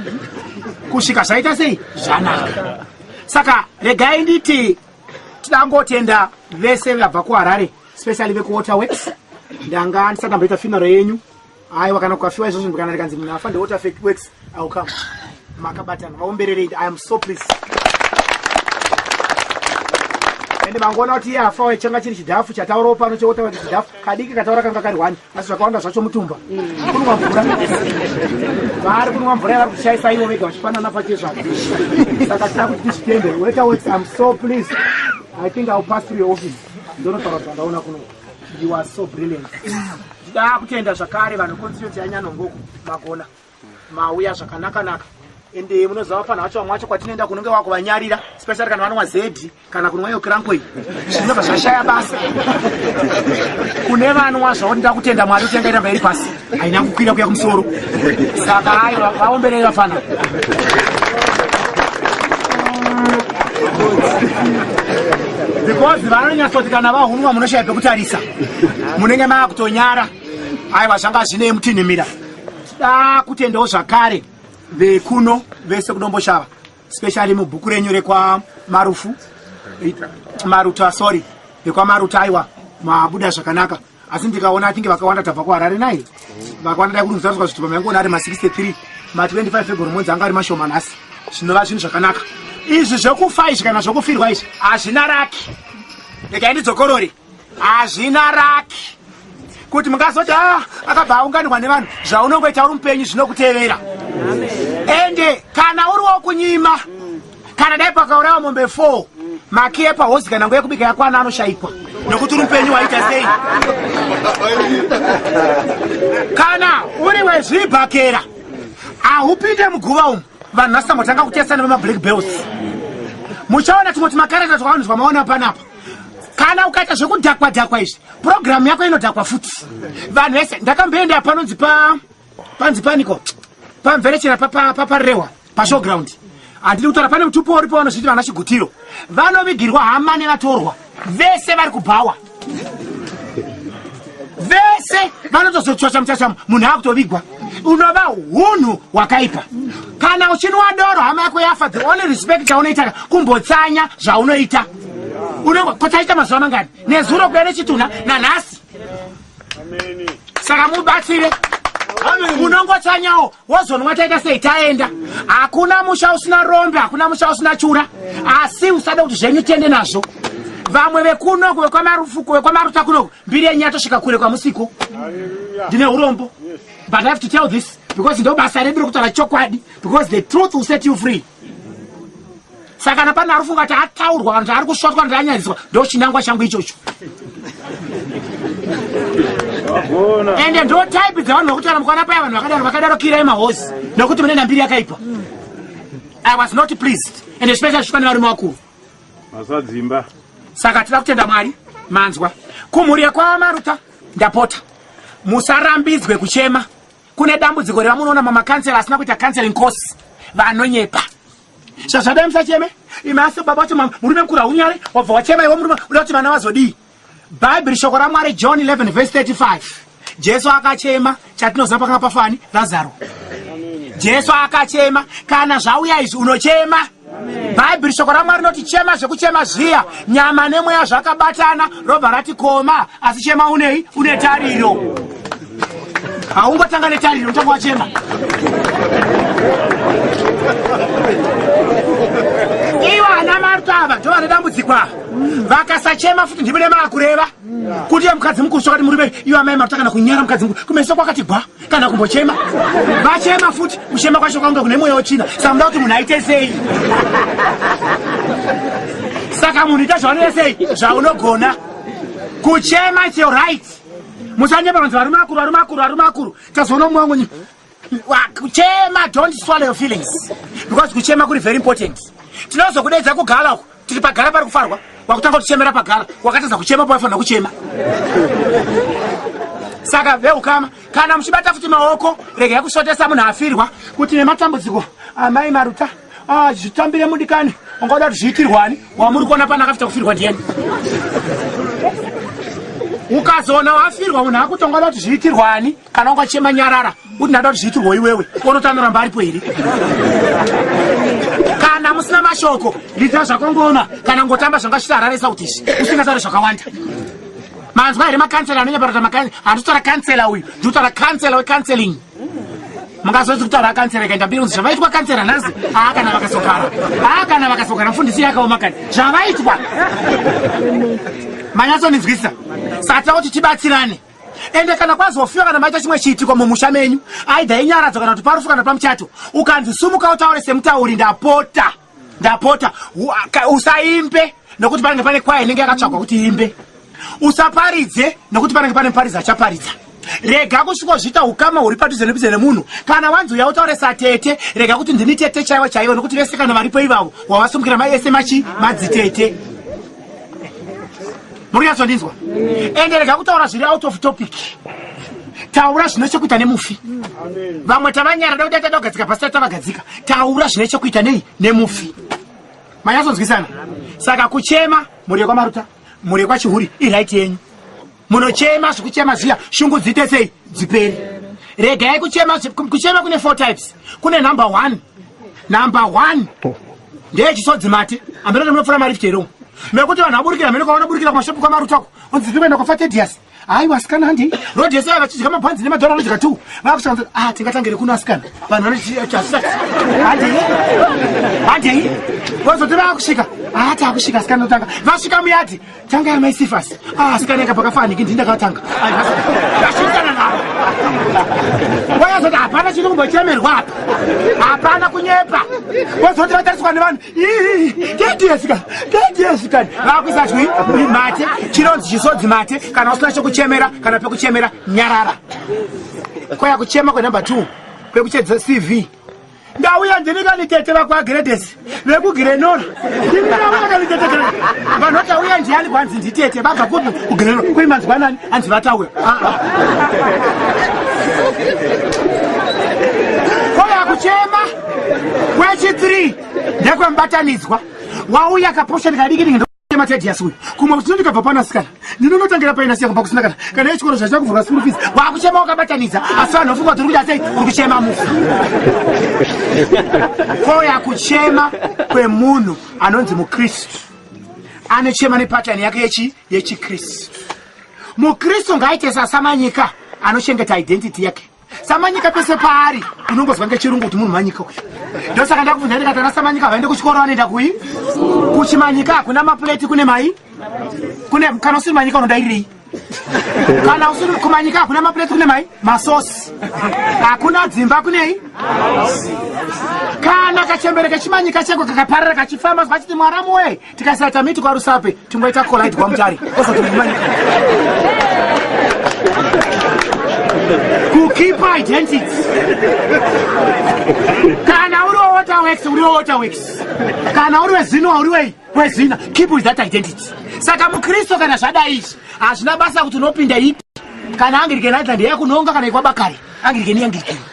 kusvika zvaita sei zvanaka saka regai nditi tidangotenda vese vabva kuharare specially vekuwaterworks ndanga ndisati ndamboita finaro yenyu aiwa kana kukafiwa izvozvo ndikana ndikanzi munhu afa ndewater fake works ill come makabatana vaombererei i am so please ende mangoona kuti iye afa waye changa chiri chidhafu chataurawo pano chewotaura kuti chidhafu kadiki kataura kanga kari hwani asi zvakawanda zvacho mutumba kunwa mvura vaari kunwa mvura yavari kushaisa ivo vega vachipanana pache zvavo saka tida kuti tizvitende weta works am so please i think ill pass through your office ndonotaura zvandaona kuno You are so brilliant. Ndida kutenda zvakare vanhu constituency yaNyanongoku magona mauya zvakanaka naka and eh, munoziva pano vacho vamwe vacho kwatinoenda kunenge wakuvanyarira especially kana vanonwa zedi kana kunwa iyo krankoi zvinobva zvashaya basa kune vanwa zvavo ndida kutenda mwari utengaita mberi pasi haina kukwira kuya kumusoro saka ayo vaomberei vafana because vanonyatsoti kana vahunwa munoshaya pekutarisa munenge mava kutonyara aiwa zvanga zvinei mutinhimira da kutendawo zvakare vekuno vese kudomboshava specially mubhuku renyu rekwamarufu maruta sorry rekwamaruta aiwa mabuda zvakanaka asi ndikaona atinge vakawanda tabva kuharare nai vakawanda dai kuti mutariswa zvitupa maingona ari ma63 ma25 february monzi anga ari mashoma nhasi zvinova zvinhu zvakanaka izvi zvekufa izvi kana zvekufirwa izvi hazvina raki regai ndidzokorori hazvina raki kuti mungazoti a ah, akabva aunganirwa nevanhu zvaunongoita uri mupenyu zvinokutevera ende kana uri wokunyima kana dai pakaurawa mombe 4 maki yepahosi kana nguva yekubika yakwana anoshaikwa nokuti uri mupenyu waita sei kana uri wezvibhakera ahupinde muguva umu vanhu vasangotanga kutesana vemablack bells muchaona tumwe tumakarata twavanhu twamaona panapa kana ukaita zvekudhakwa dhakwa izvi purogiramu yako inodhakwa futi vanhu vese ndakamboenda panonzi pa panzi paniko pamverechera paparehwa pa, pa, pa, pashowground handidi kutaura pane mutupo uri pavanozviti vana chigutiro vanovigirwa hama nevatorwa vese vari kubhawa vese vanotozotsvacha muchachamo munhu akutovigwa unova hunhu hwakaipa kana uchinwa doro hama yako yafa the only respect chaunoita kumbotsanya zvaunoita unongo kotaita mazuva mangani nezuro kuya nechitunha nanhasi saka mubatsire unongotsanyawo wozonwa taita sei taenda hakuna musha usina rombe hakuna musha usina chura asi usada kuti zvenyu tiende nazvo vamwe vekunoku vekwamarufuku vekwamaruta kunoku mbiri yenyu yatosvika kure kwamusiko ndine urombo but i have to tell this because ndobasa redu rekutaura chokwadi because the truth will set you free saka kana pane ari kufunga kuti ataurwa kana kuti ari kusvotwa kuti anyadziswa ndo chinangwa changu ichocho ende ndo type dzevanhu vakutaura mukwana paya vanhu vakadaro vakadaro kirai mahosi nokuti mune nambiri yakaipa i was not pleased ende zvipesa zvishwa nevarume vakuru masadzimba saka tida kutenda mwari manzwa kumhuri yekwamaruta ndapota musarambidzwe kuchema kune dambudziko revamunoona mamakansela asina kuita counseling course vanonyepa Zvazvadai musacheme imi asi baba vacho murume mkuru haunyare wabva wachema iwe murume uda kuti vana vazodii bhaibheri shoko ramwari john 11 vhesi 35 jesu akachema chatinoziva pakanga pafani razaro jesu akachema kana zvauya izvi unochema bhaibheri shoko ramwari rinoti chema zvekuchema zviya nyama nemweya zvakabatana robva rati koma asi chema unei une tariro haungotanga netariro unotanga wachema ivo ana marto ava ndo vane dambudziko ava vakasachema futi ndimi nemaakureva kuti ye mukadzi mukuru sokati murume ivo amai marto kana kunyara mukadzi mukuru kumeso kwakati gwa kana kumbochema vachema futi kuchema kwacho kwaunga kune mweya wochina samuda kuti munhu aite sei saka munhu ita zvaunenge sei zvaunogona kuchema its your right musanyeba vanzi varume akuru varume akuru varume akuru tazoona mumwe wangu nyika kuchema don't swallow your feelings because kuchema kuri very important tinozokudeedza kugala uku tiri pagara pari kufarwa wakutanga kutichemera pagara wakatadza kuchema pawaifanira kuchema saka veukama kana muchibata futi maoko regai kusvotesa munhu afirwa kuti nematambudziko amai maruta Ah, zvitambire mudikani ungaoda kuti zviitirwani wamuri kuona pana akafita kufirwa ndiyani ukazoona wafirwa munhu akuti ungaoda kuti zviitirwani kana ungachema nyarara kuti ndada kuti zviitirwo iwewe unotanoramba aripo here kana musina mashoko ndita zvakongoona kana ngotamba zvanga chitarare sautisi usingataure zvakawanda manzwa here makansela anonyaparota makansela handitotora kansela uyu nditotora kansela wekanseling mungazonzi kutaura kansera ikaita mbiri kunzi zvavaitwa kansera nhasi aa kana vakasokara aa kana vakasokara mfundisi yakaoma kani zvavaitwa manyatsonizwisa saka tira kuti tibatsirane ende kana kwazofiwa kana maita chimwe chiitiko mumusha menyu aidha inyaradzo kana kuti parufu kana pamuchato ukanzi sumuka utaure semutauri ndapota ndapota usaimbe nokuti panenge pane kwaya inenge yakatsvagwa kuti imbe usaparidze nokuti panenge pane muparidzi achaparidza rega kusvikozviita ukama huri padhuze nepidze nemunhu kana wanzi uya utaure satete rega kuti ndini tete chaivo chaivo nokuti vese kana varipo ivavo wavasumukira mai ese machi madzitete muri yatsondinzwa ende rega kutaura zviri out of topic taura zvine chekuita nemufi vamwe tavanyara da kudaita dogadzika pasita tavagadzika taura zvine chekuita nei nemufi manyatsonzwisana saka kuchema mhuri yekwamaruta mhuri yekwachihuri iraiti yenyu munochema zvekuchema zviya shungu dziite sei dziperi regai kuchema kuchema kune four types kune number one number one ndeye chisodzi mate ambeno nemunopfura mari fiteromo mekuti vanhu vaburikira mene kwavana burikira kumashopu kwamarutwako unzi zvikuenda kwafa tedias hayi wasikana handi rod yese ava vachidya mabhanzi nemadhora anodya two vakushanda a ah, tingatangire kuno asikana vanhu vanochiasisati handei handei vozoti vakusvika haa ah, takusvika asikana notanga vasvika muyadhi Tanga ya mai Sifas. Ah, sikana ka paka fani kindi ndaka tanga. Ai, hasa. Ndashikana na. Waya zota hapana chiri kumbo chemerwa apa. Hapana kunyepa. Wazoti vatariswa nevanhu. Ii, kiti yesika. Kiti yesika. Vakuisa chwi, uri mate, chironzi chisodzi mate, kana usina chekuchemera, kana pekuchemera nyarara. Kwaya kuchema kwa number 2. Pekuchedza CV. ndauya ndini kanitete vakwagiredesi vekugirenora ndini ndauya kanitete gre vanhu vati auya ndiani kwanzi nditete vabva kupi kugirenora kuri manzwanani hanzi vataura ah, ah. koya kuchema kwechi 3 ndekwemubatanidzwa wauya kaposheni kadiki matedias uyu kumwe kuti ndikabva pana sikana ndinonotangira paina siya kubva kusinakana kana yechikoro zvachina kuvhurwa school fees wakuchema wakabatanidza asi vanhu vafungwa kuti uri kuita sei uri kuchema mufu koya kuchema kwemunhu anonzi mukristu anochema nepatani yake yechi yechikristu mukristu ngaaite sasamanyika anochengeta identity yake samanyika pese paari unongozwa ngechirungu kuti munhu manyika uyu ndosaka ndakubvunza ndikati ana samanyika vaende kuchikoro vanoenda kui kuchimanyika hakuna mapuleti kune mai kune kana usiri manyika unodairirei kana usiri kumanyika hakuna mapuleti kune mai masosi hakuna dzimba kunei kana kachembere kechimanyika cheko kakaparira kachifamba vachiti mwaramu wee tikasata miti kwarusape tingoita collide kwamutari osotimanika kukeep identity kana uri wewaterworks uri wewaterworks kana uri wezinoa uri wei wezina keep with that identity saka mukristu kana zvadai izvi hazvina basa kuti unopinda ipi kana angirike nightland yakunonga kana ikwabakari angirike niyangirikei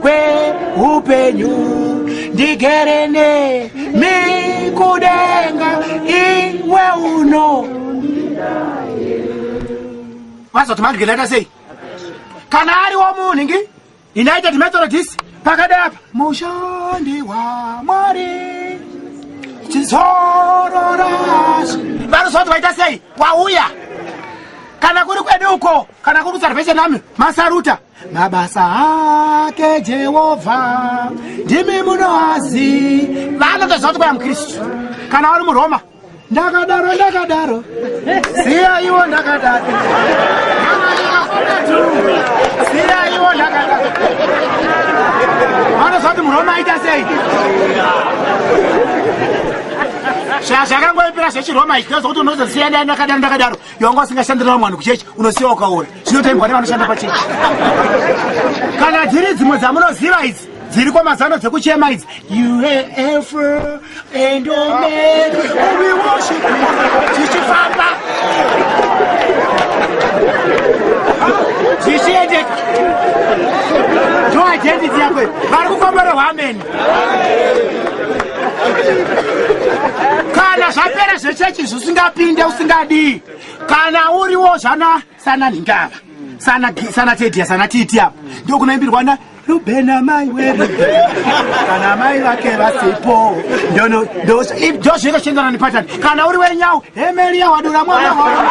kweupenyu ndigere nemi kudenga iwe uno wazoti mandigendaita sei kana ariwo munhu ngi united methodist pakada apa mushandi wamwari chizororas vanozoti vaita sei wauya kana kuri kwedu uko kana kuri kusalvation army masaruta mabasa ake jehovha ndimi munoazi vanotoziva kuti kwaya mukristu kana wari muroma ndakadaro ndakadaro siya iwo ndakadaro siya iwo ndakadaro vanoziva kuti muroma aita sei zvazvakangoipira zvechiroma ichi ndozokuti unozosiya ndakadaro ndakadaro yonga usingashandirira mwanhu kuchechi unosiya ukaora Chinotengwa nevanoshanda pachechi. Kana dziri dzimwe dzamunoziva idzi dziri kwamazano dzekuchema idzi UAF and Omen we worship tichifamba tichiendeka ndo ajendi dziyakwe vari kukomborehwa ameni kana zvapera zvechechi zvisingapinde usingadii kana uriwo zvana sana ndingava sana sana tedia sana titi apa ndio kunaimbirwa na ruben amai wedu kana amai vake vasipo ndono ndo ndo zveka chendana nepatani kana uri wenyau hemelia wadura mwana wako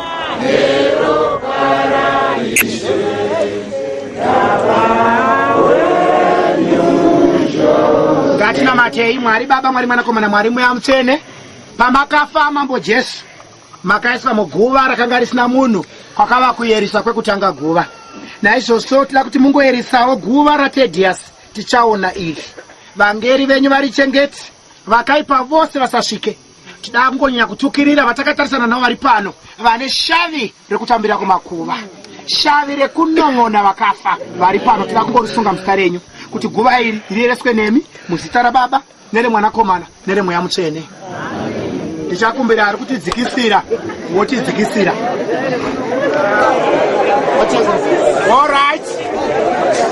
ngatinamatei mwari baba mwari mwanakomana mwari mweya mutsvene pamakafa mambo jesu makaiswa muguva rakanga risina munhu kwakava kuyeriswa kwekutanga guva naizvozvo tida kuti mungoyerisawo guva ratedhiyasi tichaona iri vangeri venyu vari chengeti vakaipa vose vasasvike tidaa kungonyanya kutukirira vatakatarisana navo vari pano vane shavi rekutambira kumakuva shavi rekunon'ona vakafa vari pano tida kungorisunga muzita renyu kuti guva iri riyereswe nemi muzita rababa neremwanakomana neremweya mutsvene ndichakumbira ari kutidzikisira wochidzikisira orit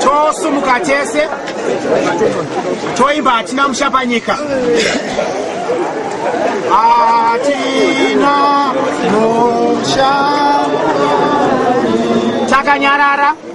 tosumuka tese toimba hatina mushapanyika hatina musha takanyarara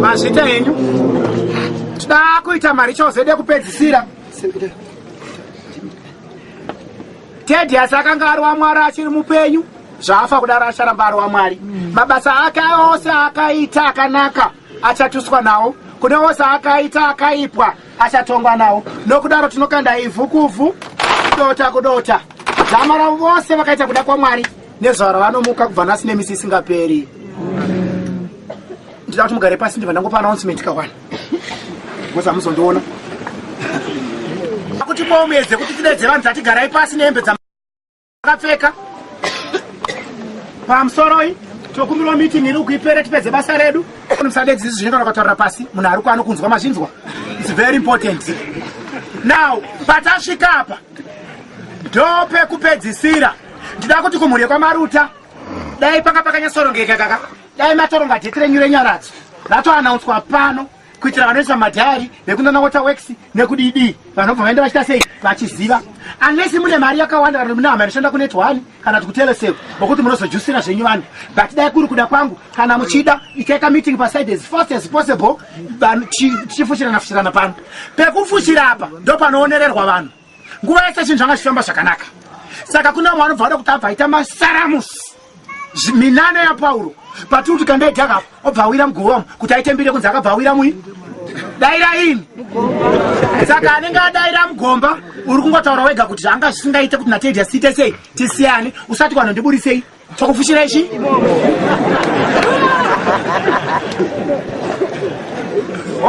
mazvita henyu tida kuita mari chose dekupedzisira tedi asi akanga ari wamwari achiri mupenyu zvaafa kudaro acharamba ari wamwari mabasa ake ose akaita akanaka achatuswa nawo kune ose akaita akaipwa achatongwa nawo nokudaro tinokanda ivhu kuvhu kudota kudota dzama ravo vose vakaita kuda kwamwari nezuva ravanomuka kubva nhasi nemisi isingaperi ndida kuti mugare pasi ndibva ndangopa announcement kawana bcause hamuzondiona kuti kwaumedze kuti tidedze vanhu tatigarai pasi nehembe akapfeka pamusoroi tokumbirwa meeting iri kuipere tipedze basa redu musadedzi izvi zvinotaura kutaura pasi munhu ari kwano kunzwa mazvinzwa its very important now patasvika apa ndo pekupedzisira ndida kuti kumhuri yekwamaruta dai panga pakanyasorongeka kaka dai matoronga dheti renyu renyaradzo ratoanaunswa pano kuitira vanoisa madhayari nekunana water works nekudidii vanhu vabva vaenda vachita sei vachiziva unless mune mari yakawanda kana mune hama inoshanda kunet one kana kuti kutelesel vokuti munozojusira zvenyu vanhu but dai kuri kuda kwangu kana muchida itaita meeting paside as fast as possible tichifushirana fushirana pano pekufushira apa ndopanoonererwa vanhu nguva yese chinhu zvanga zvichifamba zvakanaka saka kune vamwe vanobva vada kuti abva aita masaramusi minana yapauro patiri kuti kandaidhakapa obva awira mugovamu kuti aitembire kunzi akabva awira mui daira ini saka anenge adaira mugomba uri kungotaura wega kuti zvanga zvisingaite kuti natedya siite sei tisiyane usati kwanhu ndiburisei chokufushira ichi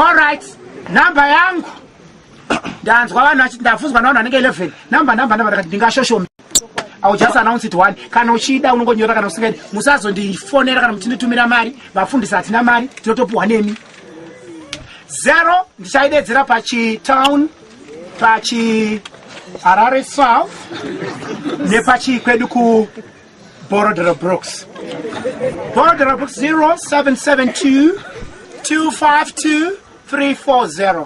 allright number yangu ndanzwa vanhu vachiti ndafunzwa navanhu vanenge 11 number number number ndakati ndingashoshome iwill just announce it one kana uchida unongonyora kana usingaidi musazondifonera kana muchinditumira mari vafundisi hatina mari tinotopiwa nemi zero ndichaidedzera pachitown pachi harare south nepachii kwedu ku borodero brooks borodero brooks 0772 252 340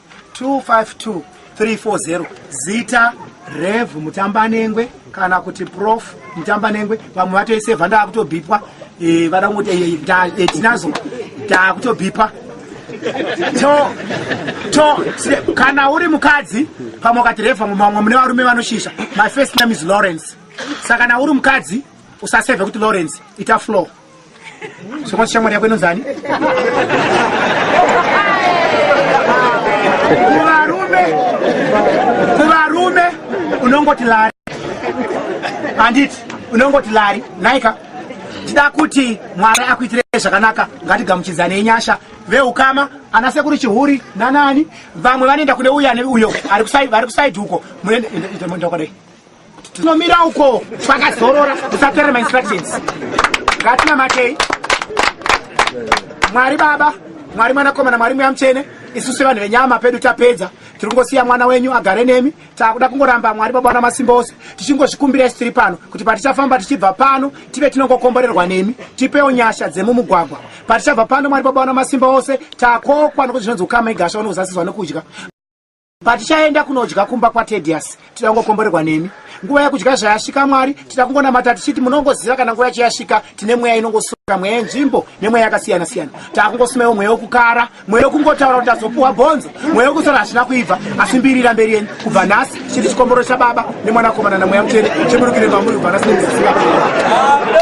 252340 zita rev mutambanengwe kana kuti prof mutambanengwe vamwe vatoisevha ndaakutobhipwa eh, vada kungoti eh, eh, tinazo ndaakutobhipwa kana uri mukadzi pamwe ukati revha mumamwe mune varume vanoshisha my first name is lawrence saka kana uri mukadzi usasevhe kuti lawrence ita flow Sokwati shamwari yako inonzi ani? Kuvarume, kuvarume unongoti lari. Handiti unongoti lari, naika tida kuti Mwari akuitire zvakanaka, ngatigamuchidzane nyasha veukama ana sekuru chihuri nanani vamwe vanoenda kune uyo ane uyo ari kusaidhi uko munoenda kwadai tinomira uko twakazorora tisaterera mainstructions ngatinamatei mwari baba mwari mwanakomana mwari mweya mutsvene isu sevanhu venyama pedu tapedza tiri kungosiya mwana wenyu agare nemi takuda kungoramba mwari baba wana masimba ose tichingozvikumbira isu tiri pano kuti patichafamba tichibva pano tive tinongokomborerwa nemi tipewo nyasha dzemumugwagwa patichabva pano mwari baba wana masimba ose takokwa nokuti zvinonzi ukama igasha unozasizwa nokudya Patichaenda kunodya kumba kwaTedius, tida kungokomborerwa nemi. Nguva yekudya zvayasvika Mwari, tida kungonamata tichiti munongoziva kana nguva yacho yasvika, tine mweya inongosura mweya yenzvimbo nemweya yakasiyana siyana. Taakungosumaiwo mweya wekukara, mweya wekungotaura kuti tazopuwa bhonzo, mweya wekusara hazvina kuibva, asi mbirira mberi yenyu kubva nhasi chiri chikomboro chababa. nemwanakomana namweya mutsvene cheburukire mamuri kubva nasi nemisisingaaa